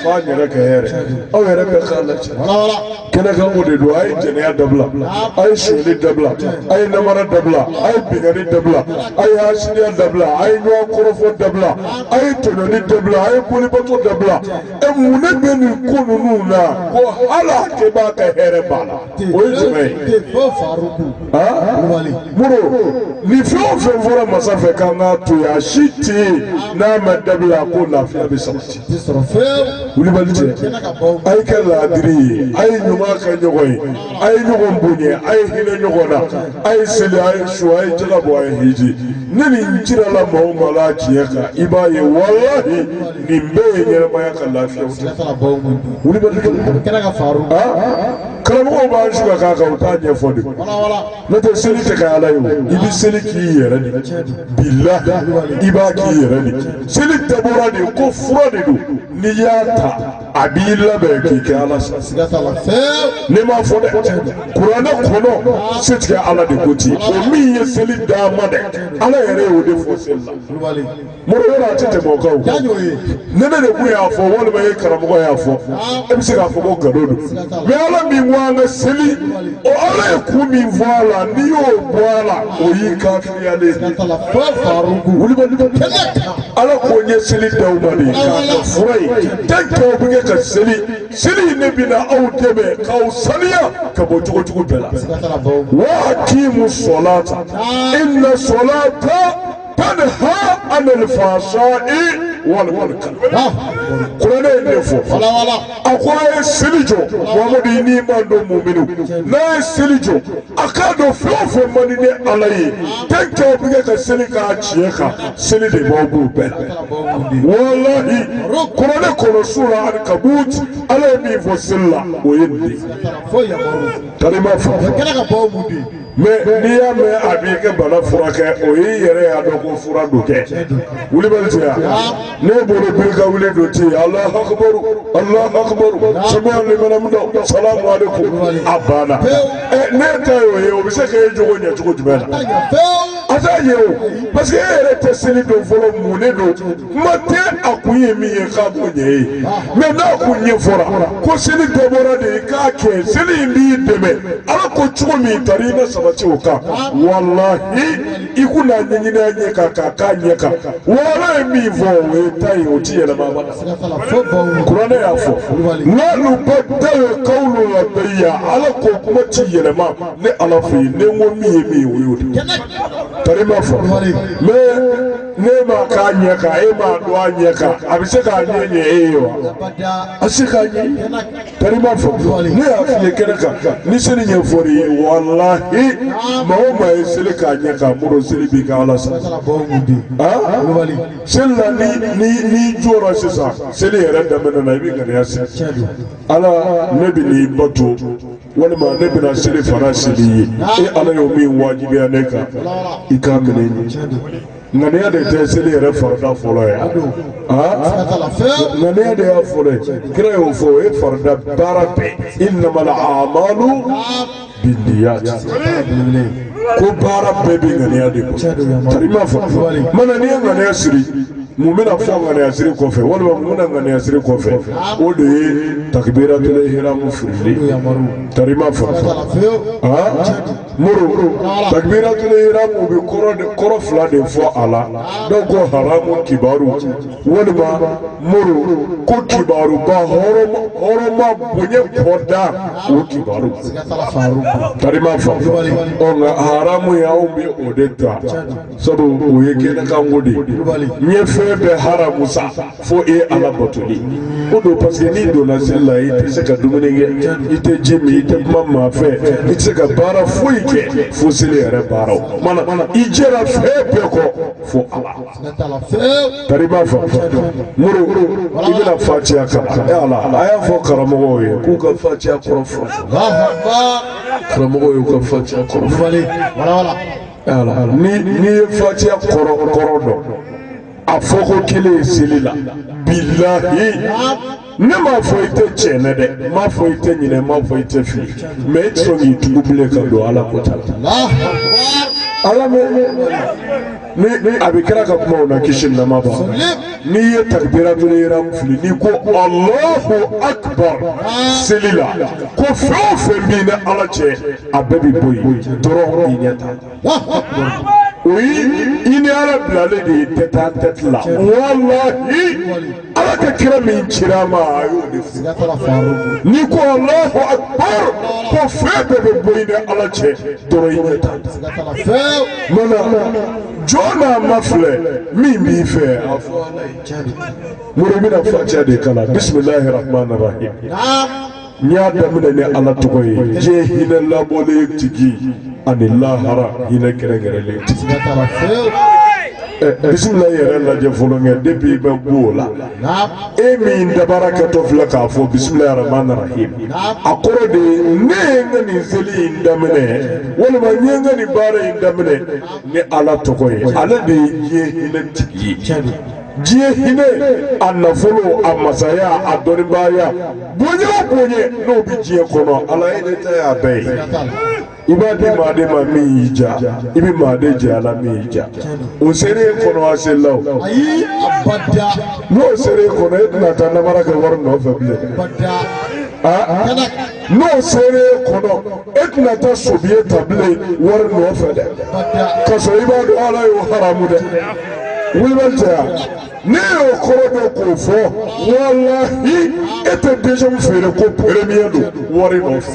Speaker 1: f'an yɛrɛ ka hɛrɛ aw yɛrɛ bɛɛ k'a lajɛ wala wala kɛnɛkan ko de don a ye jɛnɛya dabila a ye sonyali dabila a ye namara dabila a ye binkanni dabila a ye hasidiya dabila a ye ɲɔgɔn kɔrɔfɔ dabila a ye tɔɲɔni dabila a ye bolibato dabila ɛ mun ne bɛ nin ko ninnu na ko hali a kɛbaa ka hɛrɛ b'a la o ye jumɛn ye muru nin fɛn o fɛn fɔra masa fɛ k'an k'a to yen a si tɛ yen n'a ma dabila ko lafiya bɛ sabati tɛ sɔrɔ fewu wulibali tɛ kɛnɛ kan baw a ye kɛ laadiri ye a ye ɲuman kɛ ɲɔgɔn ye a ye ɲɔgɔn bonya a ye hinɛ ɲɔgɔn na a ye seli a ye sun a ye jaka bɔ a ye hiji ni nin jirala maa o maa la a tiɲɛ kan i b'a ye walahi nin bɛɛ ye ɲɛnamaya ka lafiyaw tɛ sɛnɛ fana baw man di wulibali tɛ kɛnɛ kan faru karamɔgɔw b'an su ka k'a kan u t'a ɲɛfɔ dɛ wala wala n'o tɛ seli tɛ kɛ ala ye i bɛ seli k'i yɛrɛ de bila i b'a k'i yɛrɛ de seli dabɔra de ko fura de don n'i y'a ta a b'i labɛn k'i kɛ ala sa ne m'a fɔ dɛ kuranɛ kɔnɔ setigi ala de ko ten o min ye seli d'an ma dɛ ala yɛrɛ y'o de fɔ seli la. mori yɔrɔ a tɛ tɛmɛ o kan o Taa ɲɔgɔn ye. ni ne de kun y'a fɔ walima e karamɔgɔ y'a fɔ e bɛ se k'a fɔ ko nkalon don mɛ ala min ko an ka seli o ala ye kun min fɔ a la n'i y'o bɔ a la o y'i kafiriyalen ye. Siga t'a la fɔ faruku. wulibali bɛ kɛnɛ kan. ala ko n ye seli d'aw ma de k'a kɛ fura ye tɛ tɔw bɛ kɛ ka seli seli in ne bɛna aw dɛmɛ k'aw saniya ka bɔ jogo jugu bɛɛ la Siga t'a la fɔ. wa akimu sɔlata inna sɔlata tanha anil fahsa'i wal munkar kurane ne fo falawala a ko a ye seli jɔ mamadu i n'i mantɔn muminu n'a ye seli jɔ a k'a dɔn fɛn o fɛn man di ne ala ye tɛn kɛ o bɛ kɛ ka seli k'a tiɲɛ kan seli de b'aw b'o bɛɛ la walahi kurane kɔnɔ sura ankabut ala ye min fɔ seli la o ye nin de ye foyi yamaru tari ma fɔ kɛlɛ ka bɔ mun de mɛ n'i y'a min a b'i ka bana furakɛ o y'i yɛrɛ y'a dɔn ko fura don kɛ wuli bɛ cɛ yan ne bolo biri ka wuli don ti alahu akubaru alahu akubaru sami alahu liman hamida salamu aleykum a banna ɛ n'e ta y'o ye o bɛ se k'e jogo ɲɛ cogo jumɛn na a t'a ɲɛ o parce que e yɛrɛ tɛ seli dɔn fɔlɔ mun de don kuma tɛ a kun ye min ye k'a kun ɲɛ ye mɛ n'a kun ɲɛfɔra ko seli dabɔra de i k'a kɛ seli in b'i dɛmɛ ala ko cogo min tari i bɛ sabati o kan walahi i kun n'a ɲɛɲini a ɲɛ kan k'a k'a ɲɛ kan ala ye min fɔ o ye ta ye o ti yɛlɛma abada kuranɛ y'a fɔ ma yubaddalul kawulu ladayya ala ko kuma ti yɛlɛma ne ala fɛ yen ne ko min ye min ye o y'o de ye tari ma fɔ mɛ n'e m'a k'a ɲɛ kan e m'a dɔn a ɲɛ kan a bɛ se k'a ɲɛ ɲɛ e ye wa a bɛ se k'a ɲɛ tari ma fɔ ne y'a f'i ye kɛnɛ kan ni seli ɲɛfɔr'i ye walahi maa o maa ye seli k'a ɲɛ kan muru seli b'i ka ala sa seli la ni ni n'i jɔra sisan seli yɛrɛ daminɛ na i bɛ ŋaniya siri ala ne bɛn'i bato. walima ne bɛna selifana seli ye e ala y'o min wajibiya ne kan i k'a minɛ n ye ŋaniya de tɛ seli yɛrɛ farida fɔlɔ ye ŋaniya de y'a fɔlɔ ye kira y'o fɔ o ye farida baara bɛɛ inamal amalu biniyati ko baara bɛɛ bɛ ŋaniya de kɔ tari ma fɔ mana n'i ye ŋaniya siri mun bɛna fɔ ŋaniyasiri kɔfɛ walima mun bɛna ŋaniyasiri kɔfɛ o de ye takibiratul ihramu firili tarima fɔlɔ muru takibiratul ihramu bɛ kɔrɔ de kɔrɔ fila de fɔ a la dɔw ko haramu kibaru walima muru ko kibaruba hɔrɔma hɔrɔma bonya kɔda o kibaru tarima fɔlɔ ɔ nka haramuya u bɛ o de ta. sabu o ye kɛnɛkanko de ye n ye fɛn bɛɛ haramu sa fo e ala batoli ko don parce que n'i donna seli la i tɛ se ka dumuni kɛ i tɛ ji min i tɛ kuma maa fɛ i tɛ se ka baara foyi kɛ fo seli yɛrɛ baaraw mana i jɛra fɛn bɛɛ kɔ fo ala tari b'a fɔ muru i bɛna fatiya kalan e ala a y'a fɔ karamɔgɔw ye k'u ka fatiya kɔrɔ fɔ karamɔgɔw y'u ka fatiya kɔrɔ fɔ ni n'i ye fatiya kɔrɔ kɔrɔ dɔn a fɔko kelen ye seli la bilahi ne m'a fɔ i tɛ tiɲɛ na dɛ n m'a fɔ i tɛ ɲinɛ n m'a fɔ i tɛ fili mais i tɛ sɔn k'i tugu bilen ka don ala ko ta la a lamɛn ni ni a bɛ kira ka kumaw na kisi nɛɛma b'a n'i ye takibiratul ihramu fili n'i ko alahu akibar seli la ko fɛn o fɛn b'i ni ala cɛ a bɛɛ bɛ bɔ yen dɔrɔn i ɲɛ ta o ye i ni ala bilalen de ye tête-à-tête la walahi ala ka kira min cira an ma a y'o de fɔ n'i ko alahu akbar ko fɛn bɛɛ bɛ bɔ i ni ala cɛ dɔrɔn i ɲɛ ta mana jɔn n'a ma filɛ min b'i fɛ a fɔ ala ye mori bɛna fatiya de kalan bisimilahi rahman rahim. n y'a daminɛ ni ala tɔgɔ ye diɲɛ hinɛ labɔlen tigi ani lahara hinɛ kɛrɛnkɛrɛnlen tigi bisimila yɛrɛ lajɛ fɔlɔ kɛ depuis i bɛ bɔ o la e min dabara kɛtɔ filɛ k'a fɔ bisimila rahman rahim a kɔrɔ de ye ne ye n ka nin seli in daminɛ walima n ye n ka nin baara in daminɛ ni ala tɔgɔ ye ale de ye diɲɛ hinɛ tigi ye diɲɛ hinɛ a nafolo a masaya a dɔnnibaaya bonya o bonya n'o bɛ diɲɛ kɔnɔ ala e de ta y'a bɛɛ ye i b'a di maa de ma min y'i diya i bɛ maa de jɛ a la min y'i diya o sera i kɔnɔ a seli la o ayi abada n'o sera i kɔnɔ e tɛna taa namara kɛ wari nɔfɛ bilen abada aa kana n'o sera e kɔnɔ e tɛna taa so biye ta bilen wari nɔfɛ dɛ ka sɔrɔ i b'a dɔn ala y'o haramu dɛ wulibali tɛ yan ne y'o kɔrɔ dɔ k'o fɔ walahi e tɛ denmisɛnw feere ko peremiye don wari nɔfɛ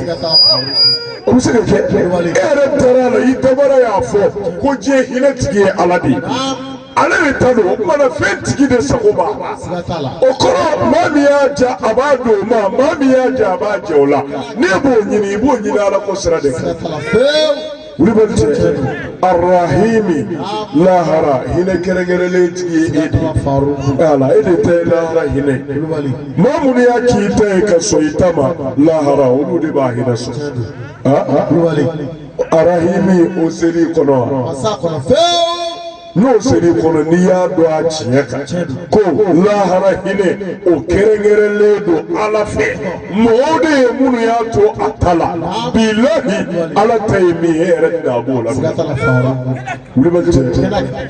Speaker 1: o bɛ se ka kɛ e yɛrɛ dara a la i dabara y'a fɔ ko diɲɛ hinɛ tigi ye ala de ye. ale de ta don o tuma na fɛn tigi de sago b'a la siga t'a la o kɔrɔ maa min y'a ja a b'a d'o ma maa min y'a ja a b'a jɛ o la n'e b'o ɲini i b'o ɲini ala ko sira de siga kan t'a la fewu wulibali tɛ arahimi lahara hinɛ kɛrɛnkɛrɛnlen tigi ye e de t'a la faruku ala e de ta ye lahara hinɛ kulubali maa minnu y'a k'i ta ye ka sɔn i ta ma lahara olu de b'a hinɛ sɔrɔ kulubali arahimi o ser'i kɔnɔ wa ma s'a kɔnɔ fewu n'o ser'i kɔnɔ n'i y'a dɔn a tiɲɛ kan ko lahara hinɛ o kɛrɛnkɛrɛnlen don ala fɛ mɔgɔw de ye minnu y'a to a ta la bilahi ala ta ye min ye e yɛrɛ tɛna a b'o la siga t'a la fara wulibali tɛ kɛnɛ kan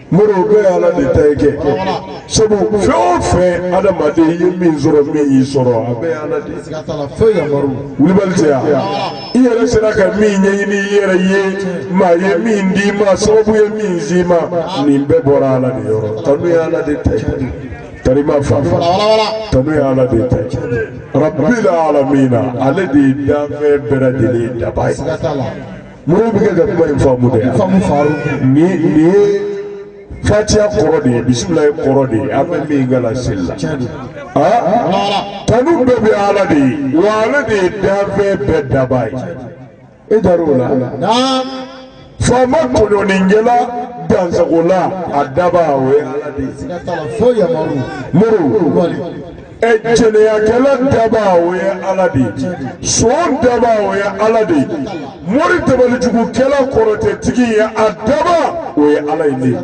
Speaker 1: mori o bɛɛ ala de ta ye kɛ sabu fɛn o fɛn adamaden i ye min sɔrɔ min y'i sɔrɔ a bɛɛ ala de ye wulibali tɛ yan i yɛrɛ sera ka min ɲɛɲini i yɛrɛ ye maa ye min d'i ma sababu ye min s'i ma nin bɛɛ bɔra ala de yɔrɔ tanu ye ala de ta ye karima fa tanu ye ala de ta ye rabbil alamina ale de ye danfɛn bɛɛ lajɛlen dabaa ye. Mori i bɛ kɛ ka kuma in faamu dɛ faamu faru nin nin ye fatiya kɔrɔ de ye bisimilayi kɔrɔ de ye an bɛ min kalan seli la aa tanu bɛɛ bɛ ala de ye wa ale de ye danfɛn bɛɛ dabaa ye e dara o la faama tɔɲɔnikɛla dansagola a dabaa o ye ala de ye mori ɛ jɛnɛyakɛla dabaa o ye ala de ye son dabaa o ye ala de ye mori dabalijugukɛla kɔrɔtɛtigi ye a dabaa o ye ala ye ne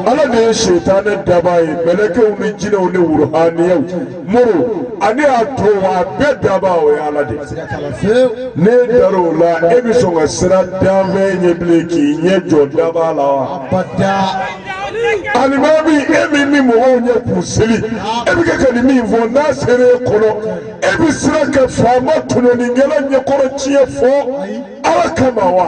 Speaker 1: ala de ye setanɛ dabaa ye mɛlɛkɛw ni jinɛw ni wuruhaniyaw mori ani a tɔw a bɛɛ dabaa o ye ala de ye n'e dara o la e bɛ sɔn ka sira danfɛn ɲɛ bilen k'i ɲɛ jɔ dabaa la wa alimami e min bɛ mɔgɔw ɲɛ k'u seli e bɛ kɛ ka nin min fɔ n'a sera e kɔnɔ e bɛ sira ka faama tɔɲɔnikɛla ɲɛkɔrɔ tiɲɛ fɔ ala kama wa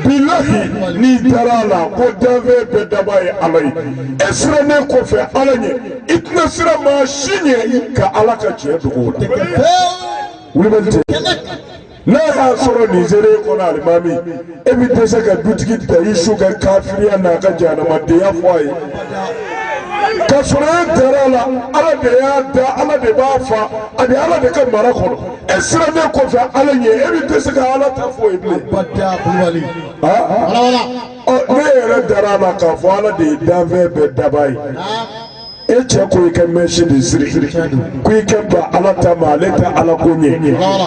Speaker 1: bilahi n'i dara a la ko danfɛn bɛɛ dabaa ye ala ye e siranen kɔfɛ ala ɲɛ i tɛna sira maa si ɲɛ ka ala ka tiɲɛ dogo la. n'a y'a sɔrɔ nin sera e kɔnɔ alimami e bɛ dɛsɛ ka dutigi dayisu ka kafiriya n'a ka jahanamadenya fɔ a ye ka sɔrɔ e dara a la ala de y'a da ala de b'a faa a bɛ ala de ka mara kɔnɔ e sirannen kɔfɛ ala ɲɛ e bɛ dɛsɛ ka ala ta fɔ a ye bilen n'e yɛrɛ dara a la k'a fɔ ala de ye danfɛn bɛɛ dabaa ye. e cɛ ko i ka mɛsi de siri ko i ka ban ala ta ma ale tɛ ala ko ɲɛ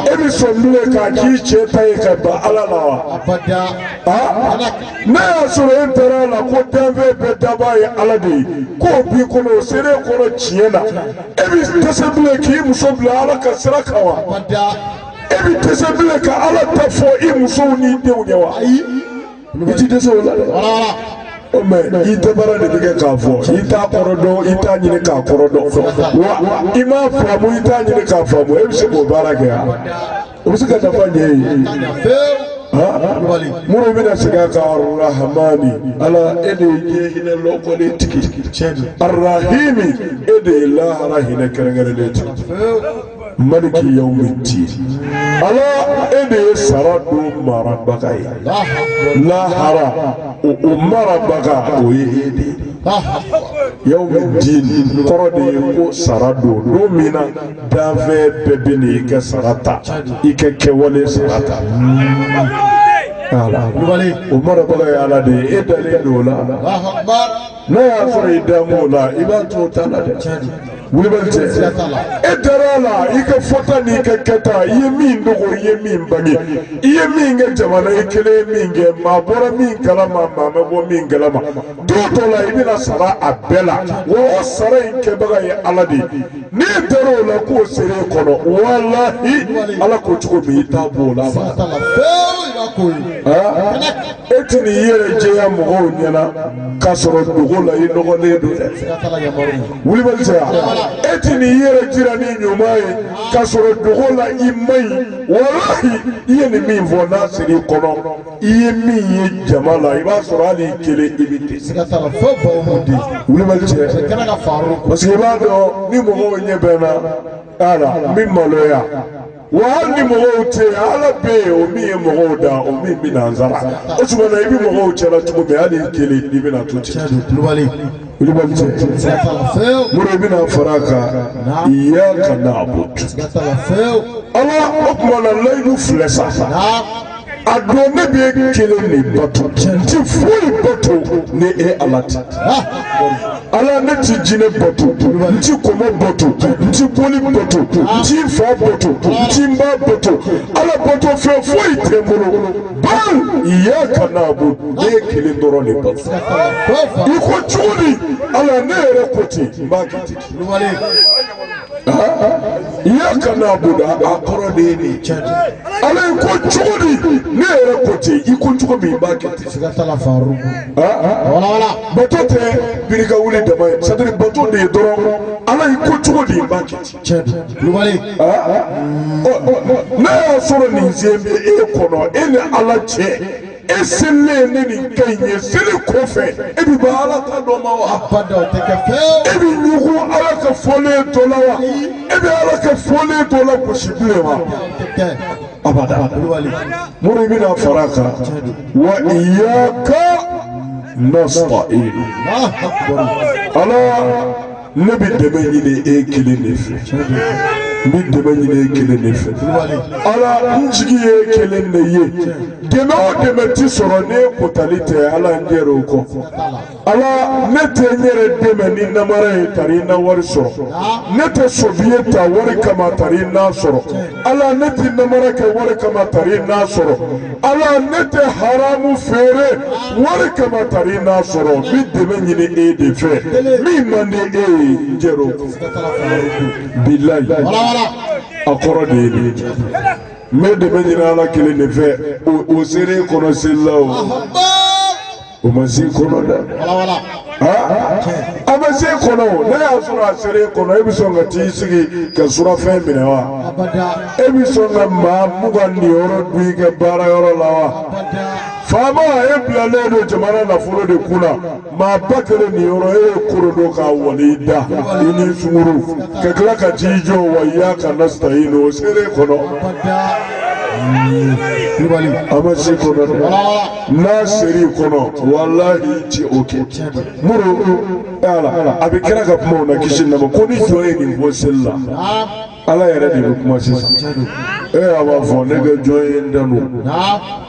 Speaker 1: e bɛ sɔn bilen ka k'i cɛ ta ye ka ban ala la wa aa n'a y'a sɔrɔ e dara a la ko danfɛn bɛɛ dabaa ye ala de ye k'o b'i kɔnɔ o sera e kɔnɔ tiɲɛ na e bɛ dɛsɛ bilen k'i muso bila ala ka sira kan wa e bɛ dɛsɛ bilen ka ala ta fɔ i musow n'i denw ye wa ayi. i ti dɛsɛ o la dɛ. wala wala. o mɛ i tɛ baara de bɛ kɛ k'a fɔ i t'a kɔrɔ dɔn i t'a ɲini k'a kɔrɔ dɔn wa i m'a faamu i t'a ɲini k'a faamu e bɛ se k'o baara kɛ yan o bɛ se ka nafa ɲɛ i ye. mori bɛna segin a kan arahamani ala e de ye diɲɛ hinɛ lɔkɔlen tigi arahimi e de ye lahara hinɛ kɛrɛnkɛrɛnnen tigi. maliki yawmi diin ala e de ye sara don marabaga ye lahara o o marabaga o ye e de ye yawmi diin kɔrɔ de ye ko sara don don min na danfɛn bɛɛ bɛ n'i ka sara ta i ka kɛwale sara ta. Ala. Kulubali. O marabaga ye ala de ye e dalen don o la. n'a y'a sɔrɔ i dalen b'o la i b'a to o ta la dɛ kulubali cɛ e dara a la i ka fɔta n'i ka kɛta i ye min dogo i ye min bange i ye min kɛ jama na i kelen ye min kɛ maa bɔra min kalama maa ma bɔ min kalama don dɔ la i bɛna sara a bɛɛ la wa o sara in kɛbaga ye ala de ye n'e dara o la k'o sera e kɔnɔ walahi ala ko cogo min i t'a bɔ o la ma e ti n'i yɛrɛ jɛya mɔgɔw ɲɛna k'a sɔrɔ dogo la i nɔgɔlen don dɛ kulubali cɛ e ti n'i yɛrɛ jira ni ɲuman ye k'a sɔrɔ dogo la i man ɲi walahi i ye nin min fɔ n'a sera i kɔnɔ i ye min ye jama la i b'a sɔrɔ hali i kelen i bɛ ten. siga t'a la fo baw b'o di. kulubali cɛ. i kana ka faaro. parce que i b'a dɔn ni mɔgɔw ɲɛ bɛnna a la n bɛ maloya wa hali ni mɔgɔw tɛ yen ala bɛ yen o min ye mɔgɔw da o min bɛna an sara o tuma na i bɛ mɔgɔw cɛla cogo min hali i kelen i bɛna to ten. kulubali kulubali cɛ mori i bɛna fara a kan iyaka naabudu. ala o tuma na layidu filɛ sa. a don ne b'e kelen de bato n ti foyi bato ni e ala tɛ ala ne ti jinɛ bato n ti kɔmɔ bato n ti boli bato n ti fa bato n ti ba bato ala bato fɛn foyi tɛ n bolo ban iyaka naabudu ne y'e kelen dɔrɔn de bato i ko cogo di ala ne yɛrɛ ko ten n b'a kɛ ten. iyaka naabudu a kɔrɔ de ye nin cɛ de ala i ko cogo di ne yɛrɛ ko ten i ko cogo min i b'a kɛ ten siga t'a la faru walawala bato tɛ biri ka wuli dama ye c'est à dire bato de ye dɔrɔn ala i ko cogo di i b'a kɛ ten cɛ de kulubali n'a y'a sɔrɔ nin selen bɛ e kɔnɔ e ni ala cɛ e selilen ni nin kan in ye seli kɔ fɛ e bɛ ban ala ta dɔ ma wa abada o tɛ kɛ fewu e bɛ ɲugun ala ka fɔlen dɔ la wa e bɛ ala ka fɔlen dɔ lagosi bilen wa o tɛ kɛ abada kulubali mun de bɛna fara a kan wa iyaka nasitayin ala ne bɛ dɛmɛ ɲini e kelen de fɛ n bɛ dɛmɛ ɲini e kelen de fɛ ala n jigi ye e kelen de ye dɛmɛ o dɛmɛ ti sɔrɔ n'e kotali tɛ ala n jɛra o kɔ ala ne tɛ n yɛrɛ dɛmɛ ni namara ye tari n na wari sɔrɔ ne tɛ sofiye ta wari kama tari n na sɔrɔ ala ne tɛ namara kɛ wari kama tari n na sɔrɔ. ala ne tɛ haramu feere wari kama tari n'a sɔrɔ n bɛ dɛmɛ ɲini e de fɛ min man di e ye n jɛra o kɔ bilayi a kɔrɔ de ye nin ye n bɛ dɛmɛ ɲini ala kelen de fɛ o o sera e kɔnɔ seli la o. o ma s'e kɔnɔ dɛ a ma s'e kɔnɔ n'a y'a sɔrɔ a sera e kɔnɔ e bɛ sɔn ka t'i sigi ka surafɛn minɛ wa e bɛ sɔn ka maa mugan niyɔrɔ dun i ka baara yɔrɔ la wa faama e bilalen don jamana nafolo de kun na maa ba kelen niyɔrɔ e ye koro don k'a wali i da i ni sungurun ka tila ka t'i jɔ wa iyaka nasitayinu o sera e kɔnɔ a ma s'e kɔnɔ dɛ. n'a sera i kɔnɔ walahi i ti o kɛ muru ala a bɛ kira ka kumaw na kisi nama ko ni jɔn ye nin fɔ seli la ala yɛrɛ de bɛ kuma sisan e a b'a fɔ ne ka jɔn ye n tanu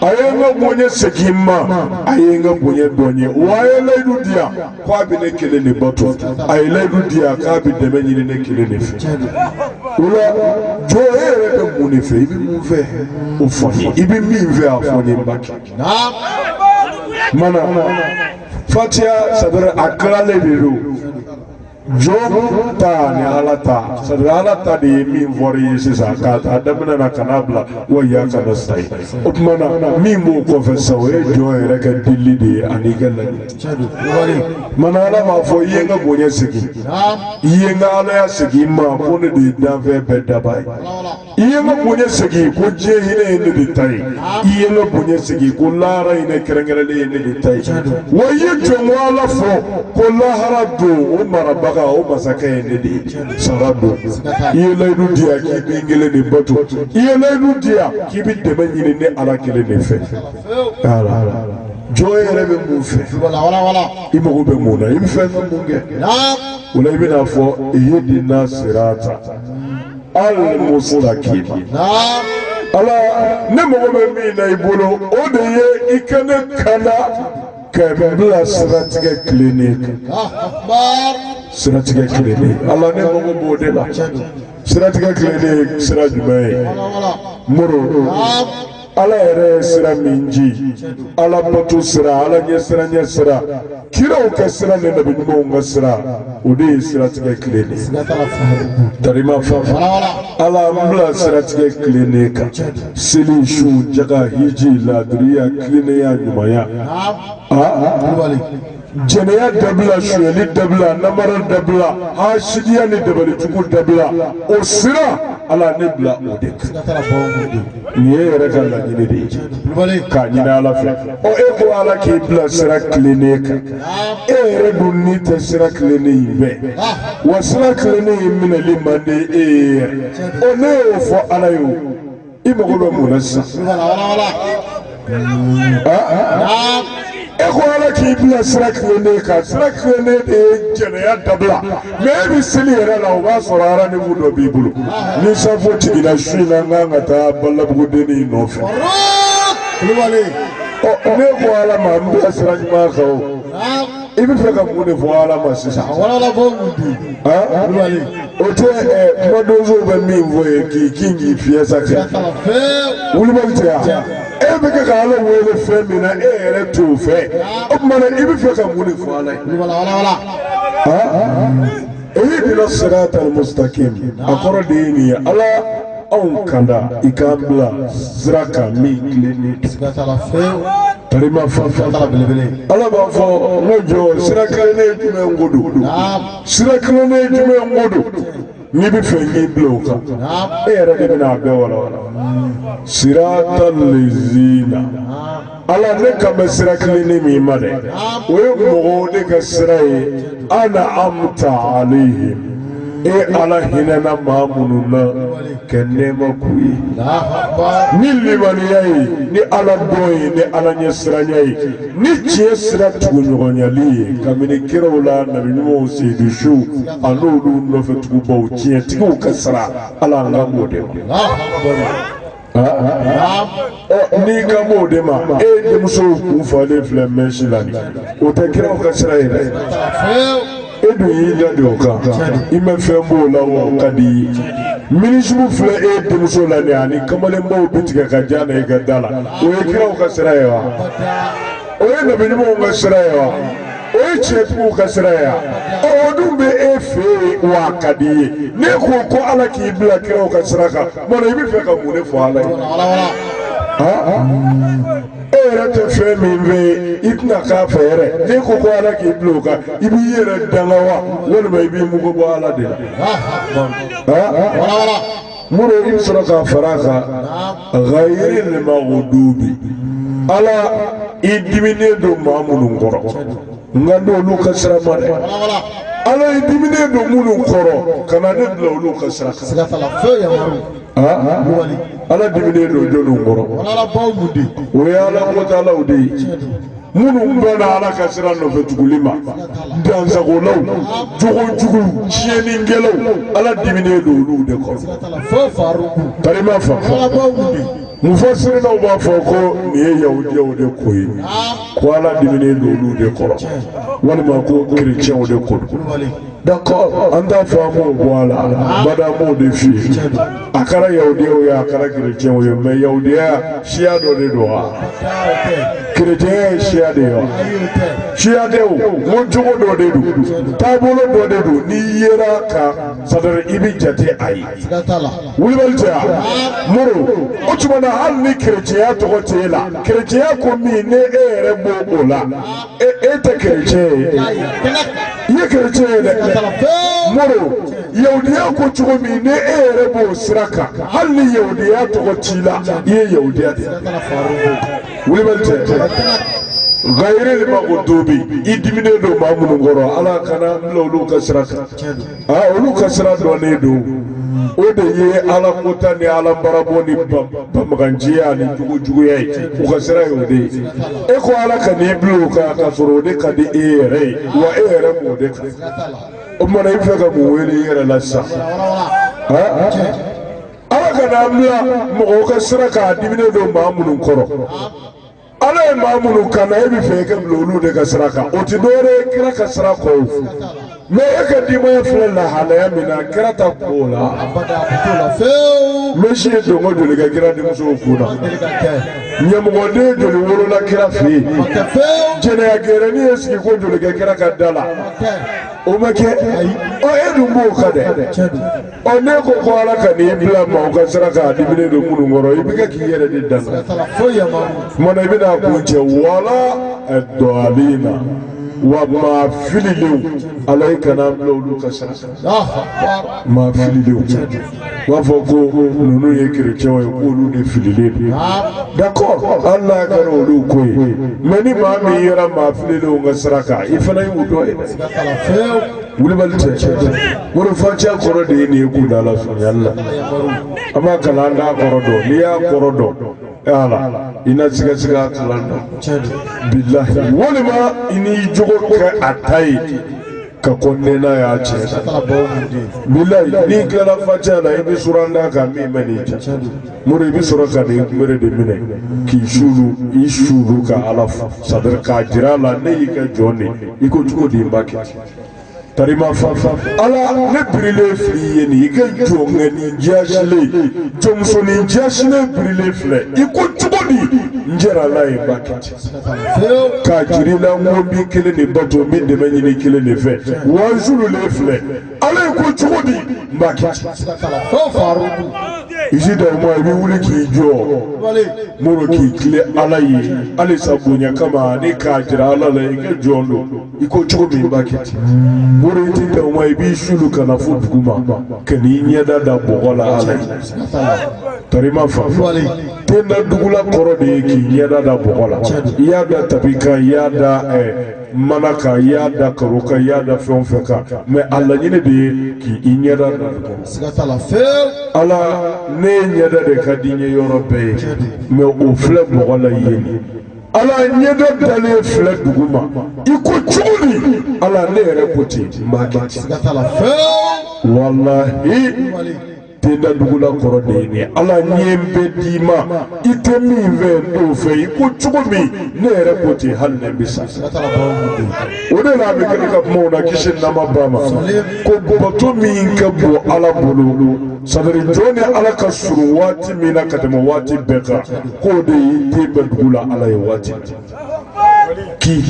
Speaker 1: a ye n ka bonya segin n ma a ye n ka bonya dɔn n ye wa a ye layidu di yan ko a bɛ ne kelen de bato a ye layidu di yan k'a bɛ dɛmɛ ɲini ne kelen de fɛ o la jɔn e yɛrɛ bɛ mun de fɛ i bɛ mun fɛ o fɔ n ye i bɛ min fɛ a fɔ n ye n b'a kɛ mana fatiya sadara a kilalen de don jɔn ta ni ala ta sadara ala ta de ye min fɔra i ye sisan k'a ta a daminɛ na ka n'a bila wa iyaka nastayin o tuma na min b'o kɔfɛ sa o ye jɔn yɛrɛ ka dili de ye an'i ka laɲini mana ala m'a fɔ i ye n ka bonya segin i ye n ka alaya segin n ma ko ne de ye danfɛn bɛɛ dabaa ye i ye n ka bonya segin ko diɲɛ hinɛ ye ne de ta ye i ye n ka bonya segin ko lahara hinɛ kɛrɛnkɛrɛnlen ye ne de ta ye wa i ye jɔnko ala fɔ ko lahara don o marabaga o masakɛ ye ne de ye sara don i ye layidu di yan k'i bɛ n kelen de bato i ye layidu di yan k'i bɛ dɛmɛ ɲini ne ala kelen de fɛ jɔn yɛrɛ bɛ mun fɛ i mago bɛ mun na i bɛ fɛn fɛn mun kɛ o la i bɛna fɔ ihidina sirata alimusitakima ala ne mago bɛ min na i bolo o de ye i ka ne kanda ka n bila siratigɛ tilennen kan siratigɛ tilennen ala ne mago b'o de la siratigɛ tilennen sira jumɛn ye mori ala yɛrɛ ye sira min ji ala bato sira ala ɲɛsiranɲɛ sira kiraw ka sira ni nabi ɲumanw ka sira o de ye siratigɛ tilennen ye tarima fanfɛ ala an bila siratigɛ tilennen kan seli sun jaka hiji laadiriya tilennenya ɲumanya aa jɛnɛya dabila sonyɛli dabila namara dabila hasidiya ni dabalijugu dabila o sira ala ne bila o de kan nin ye e yɛrɛ ka laɲini de ye k'a ɲini ala fɛ ɔ e ko ala k'i bila sira tilennen kan e yɛrɛ dun n'i tɛ sira tilennen in fɛ wa sira tilennen in minɛli man di e ye yɛrɛ ɔ ne y'o fɔ ala ye o i mago bɛ mun na sisan. e ko ala k'i bila sira tilennen kan sira tilennen de ye jɛnɛya dabila mɛ e bɛ seli yɛrɛ la o b'a sɔrɔ arandevu dɔ b'i bolo ni safo jiginna su in na n kan ka taa balabugudenni in nɔfɛ. kulubali. ɔ ne ko ala ma n bila sira ɲuman kan o. i bɛ fɛ ka mun de fɔ ala ma sisan. a walala fɔ mun di. kulubali. o tɛ ɛ kumadonsow bɛ min fɔ ye k'i kin k'i fiyɛ sa cɛ. kulubali tɛ yan. e bɛ kɛ ka ala wele fɛn min na e yɛrɛ t'o fɛ. o tuma na i bɛ fɛ ka mun de fɔ ala ye. kulubali wala wala. ihidina sirata mustaqim a kɔrɔ de ye nin ye ala anw kanda i k'an bila sira kan min tilennen don. Karima fa fɛnba belebele. Ala b'a fɔ n ka jɔn sira kilennen jumɛn ko don. Sira kilennen jumɛn ko don. N'i b'a fɛ k'i bila o kan. E yɛrɛ de bɛna a bɛɛ walawala. Siratal lezina. Ala ne kan bɛ sira kilennen min ma dɛ. O ye mɔgɔw de ka sira ye. An'amta alayhim. E ala hinɛna maa minnu na. ka nɛɛma k'u ye ni limaniya ye ni ala dɔn ye ni ala ɲɛsiranya ye ni tiɲɛ sira tuguɲɔgɔnyali ye kabini kiraw la nabi ɲumanw seyidu suw an'olu nɔfɛ tugubaw tiɲɛtigiw ka sira ala n kan b'o de ma n'i kan b'o de ma e denmusow kun falen filɛ mɛsi la nin o tɛ kiraw ka sira ye dɛ e dun y'i dade o kan i ma fɛn b'o la o ka di i ye minizipu filɛ e denmuso la nin ani kamalenbaw b'i tigɛ ka ja na i ka da la o ye kiraw ka sira ye wa o ye nabi ɲumanw ka sira ye wa. o ye tiɲɛtigiw ka sira ye wa o dun bɛ e fɛ yen wa a ka di i ye n'e ko ko ala k'i bila kiraw ka sira kan mɔna i b'a fɛ ka mun de fɔ ala ye e yɛrɛ tɛ fɛn min fɛ i tɛna k'a fɛ yɛrɛ n'e ko ko ala k'i bila o kan i b'i yɛrɛ danga wa walima i b'i mugu bɔ ala de la moro i bɛ sɔrɔ k'a fara a kan ghayiril maghdubi ala i diminen don maa minnu kɔrɔ n kan t'olu ka sira ma dɛ ala i diminen don minnu kɔrɔ kana ne bila olu ka sira kan siga t'a la fɛn yamaru Ah, kulubali ala diminen don jɔnniw kɔrɔ walabaw mun de o ye ala kotalaw de ye minnu banna ala ka sira nɔfɛ tuguli ma dansagolaw jogojuguw tiɲɛnikɛlaw ala diminen don olu de kɔrɔ karima fa mufasirinaw b'a fɔ ko nin ye yahudiyaw de ko ye ko ala diminen don olu de kɔrɔ walima ko kerecɛnw de ko don D'accord an t'a fɔ an b'o bɔ a la abada an b'o de f'i ye a kɛra yahudiyaw ye a kɛra kerecɛnw ye mais yahudiya siya dɔ de don wa kerecɛnya ye siya de ye wa siya tɛ o ko cogo dɔ de don taabolo dɔ de don n'i yera ka sadari i bɛ jate a ye wulibali tɛ wa moro o tuma na hali ni kerecɛnya tɔgɔ tɛ e la kerecɛnya ko min ni e yɛrɛ b'o la e e tɛ kerecɛn ye i ye kerecɛn ye dɛ moro yahudiya ko cogo min ni e yɛrɛ b'o sira kan hali ni yahudiya tɔgɔ t'i la i ye yahudiya de ye wulibali tɛ gayiril magdubi i diminen don maa minnu kɔrɔ ala kana n bila olu ka sira kan aa olu ka sira dɔnnen don o de ye ala kota ni ala barabɔ ni banbaganciya ani jogojuguya ye u ka sira ye o de ye e ko ala kan'i bila o kan k'a sɔrɔ o de ka di e yɛrɛ ye wa e yɛrɛ b'o de kan o tuma na i bɛ fɛ ka mun wele i yɛrɛ la sisan ala kan'an bila mɔgɔw ka sira kan a diminen don maa minnu kɔrɔ ala ye maa minnu kanda e bɛ fɛ i ka bila olu de ka sira kan o tɛ dɔwɛrɛ ye kira ka sira kɔ o mɛ e ka denbaya filɛ lahalaya min na kira ta kun b'o la mɛsi ye donko joli kɛ kira denmusow kun na ɲamɔgɔden joli wolola kira fɛ yen jɛnɛya gɛrɛni ye sigiko joli kɛ kira ka da la o ma kɛ ɔ e dun b'o kan dɛ ɔ n'e ko ko ala kan'i bila maaw ka sira kan a diminen don minnu kɔrɔ i bɛ kɛ k'i yɛrɛ de danga o tuma na i bɛn'a kuncɛ wala daalina wa maa fililenw ala i kan'an bila olu ka sira kan maa fililenw u b'a fɔ ko ninnu ye kerecɛnw ye k'olu de fililen don d'accord hali n'a kɛra olu ko ye mɛ ni maa min yera maa fililenw ka sira kan i fana y'u dɔ ye dɛ Kulibali cɛ mori facɛ kɔrɔ de ye nin ye k'u da la surunya la an b'a kalan an t'a kɔrɔ dɔn n'i y'a kɔrɔ dɔn ala i na sigasiga kalan dɔn bilahi walima i n'i jogo kɛ a ta ye ka ko nɛnɛ y'a cɛ bilayi n'i tilala facɛ la i bɛ suran d'a kan min bɛ n'i cɛ mori i bɛ sɔrɔ ka n'i kunbere de minɛ k'i suulu i suulu ka ala fo sadiri k'a jira a la ne y'i ka jɔn de ye i ko cogo di n b'a kɛ Karima fa ala ne birilen filɛ i ye nin i ka jɔnkɛnin jaasilen jɔnmusonin jaasilen birilen filɛ i ko cogo di n jɛrala ye b'a kɛ k'a jira i la ko n b'i kelen de bato n bɛ dɛmɛ ɲini i kelen de fɛ wa n suululen filɛ ala i ko cogo di n b'a kɛ isi dawuma i bɛ wuli k'i jɔ mori k'i tilen ala ye halisa bonya kama ani k'a jira ala la i ka jɔn don i ko cogo min i b'a kɛ ten mori i tɛ dan o ma i b'i suulu ka na fo dugu ma ka n'i ɲɛda da bɔgɔ la ala ye karima fa ten da dugu la kɔrɔ de ye k'i ɲɛda da bɔgɔ la i y'a da tapi kan i y'a da mana kan i y'a da karo kan i y'a da fɛn o fɛn kan mɛ a laɲini de ye k'i ɲɛda da bɔgɔ la ala ne ye ɲɛda de ka di n ye yɔrɔ bɛɛ ye mɛ o filɛ bɔgɔ la i ye ala ɲɛda dalen filɛ dugu ma i ko cogo min ala ne yɛrɛ ko ten n b'a kɛ ten siga t'a la fɛn walahi ten da dugu la kɔrɔ de ye nin ala ɲɛ bɛ d'i ma i tɛ min fɛ n t'o fɛ i ko cogo min ne yɛrɛ ko ten hali ne bɛ sa siga t'a la bawo mun don o de la a bɛ kɛ ne ka kumaw na kisi nama ba ma ko bato min ka bon ala bolo sabari jɔn ni ala ka surun waati min na ka tɛmɛ waati bɛɛ kan k'o de ye ten bɛ dugu la ala ye waati k'i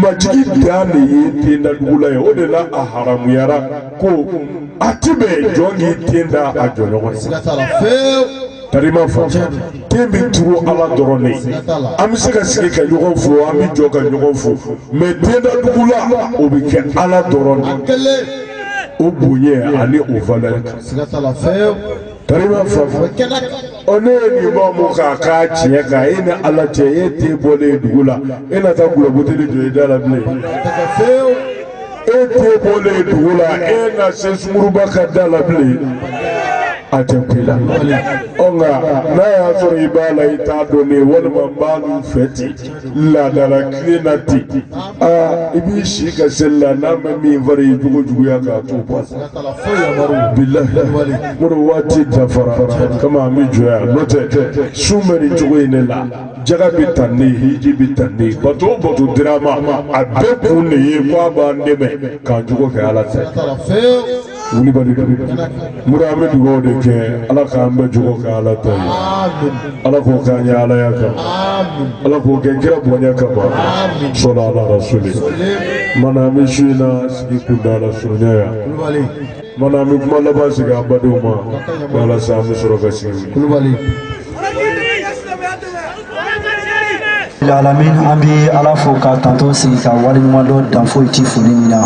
Speaker 1: majigi dan de ye ten da dugu la ye o de la a haramuyara ko a ti bɛn jɔn k'i ten da a jɔnɲɔgɔn ye tarima fɔ ten bɛ turu ala dɔrɔn ne an bɛ se ka sigi ka ɲɔgɔn fo an bɛ jɔ ka ɲɔgɔn fo mɛ ten da dugu la o bɛ kɛ ala dɔrɔn de o bonya ani o valɛri kan karima fafa ɔ n'e ye nin faamu k'a kɛ tiɲɛ kan e ni ala cɛ e ten bɔlen dugu la e na taa dɔlɔbuteli jɔ i da la bilen. e ten bɔlen dugu la e na se sungurunba ka da la bilen a tɛ kun i la ɔ nka n'a y'a sɔrɔ i b'a la i t'a dɔn ne walima n b'a n'u fɛ ten laada latilen na ten aa i b'i si kɛ seli la n'a ma min fara i jogo juguya kan to bɔ bilahi mori waati dafara kama an bɛ jɔ yan n'o tɛ sun bɛ nin cogo in de la. jaka bɛ tan ne hiji bɛ tan ne bato o bato dira an ma a bɛɛ kun de ye ko a b'an dɛmɛ k'an jogo kɛ ala ta ye kulibali don mura an bɛ dugawu de kɛ ala k'an bɛɛ jogo kɛ ala ta ye ala k'o k'an ye alaya kan ala k'o kɛ kira bonya kama solu ala rasuli mana an bɛ su in na sigi kuntaala surunya yan Mana an bɛ kuma laban sigi an badenw ma walasa an bɛ sɔrɔ ka sigi kulubali alamin an bɛ ala fo k'a tando sigi k'a waleɲumandɔn dan foyi ti foli min na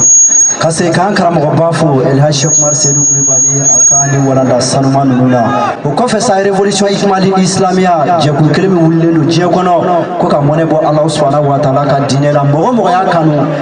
Speaker 1: ka se k'an karamɔgɔba fo elhaji sheikh umar seyidu kulubali a ka nin walanda sanuman ninnu na o kɔfɛ sa révolution ikmali ni isilamiya jɛkulu kelen min wulilen don diɲɛ kɔnɔ ko ka mɔnɛ bɔ ala subahana wa taala ka diinɛ la mɔgɔ o mɔgɔ y'a kanu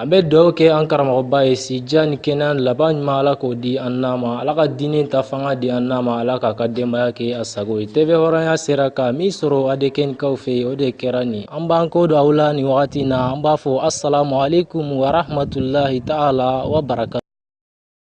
Speaker 1: an bɛ duwaw kɛ an karamɔgɔba ye si jan ni kɛnɛya laban ɲuman ala k'o di an n'a ma ala ka diinɛ ta fanga di an n'a ma ala k'a ka denbaya kɛ a sago ye TV hɔrɔnya sera ka min sɔrɔ adkɛkaw fɛ yen o de kɛra nin an b'an kɔ don aw la nin wagati na an b'a fɔ asalamu alekum warahmatulahi taala wa baraka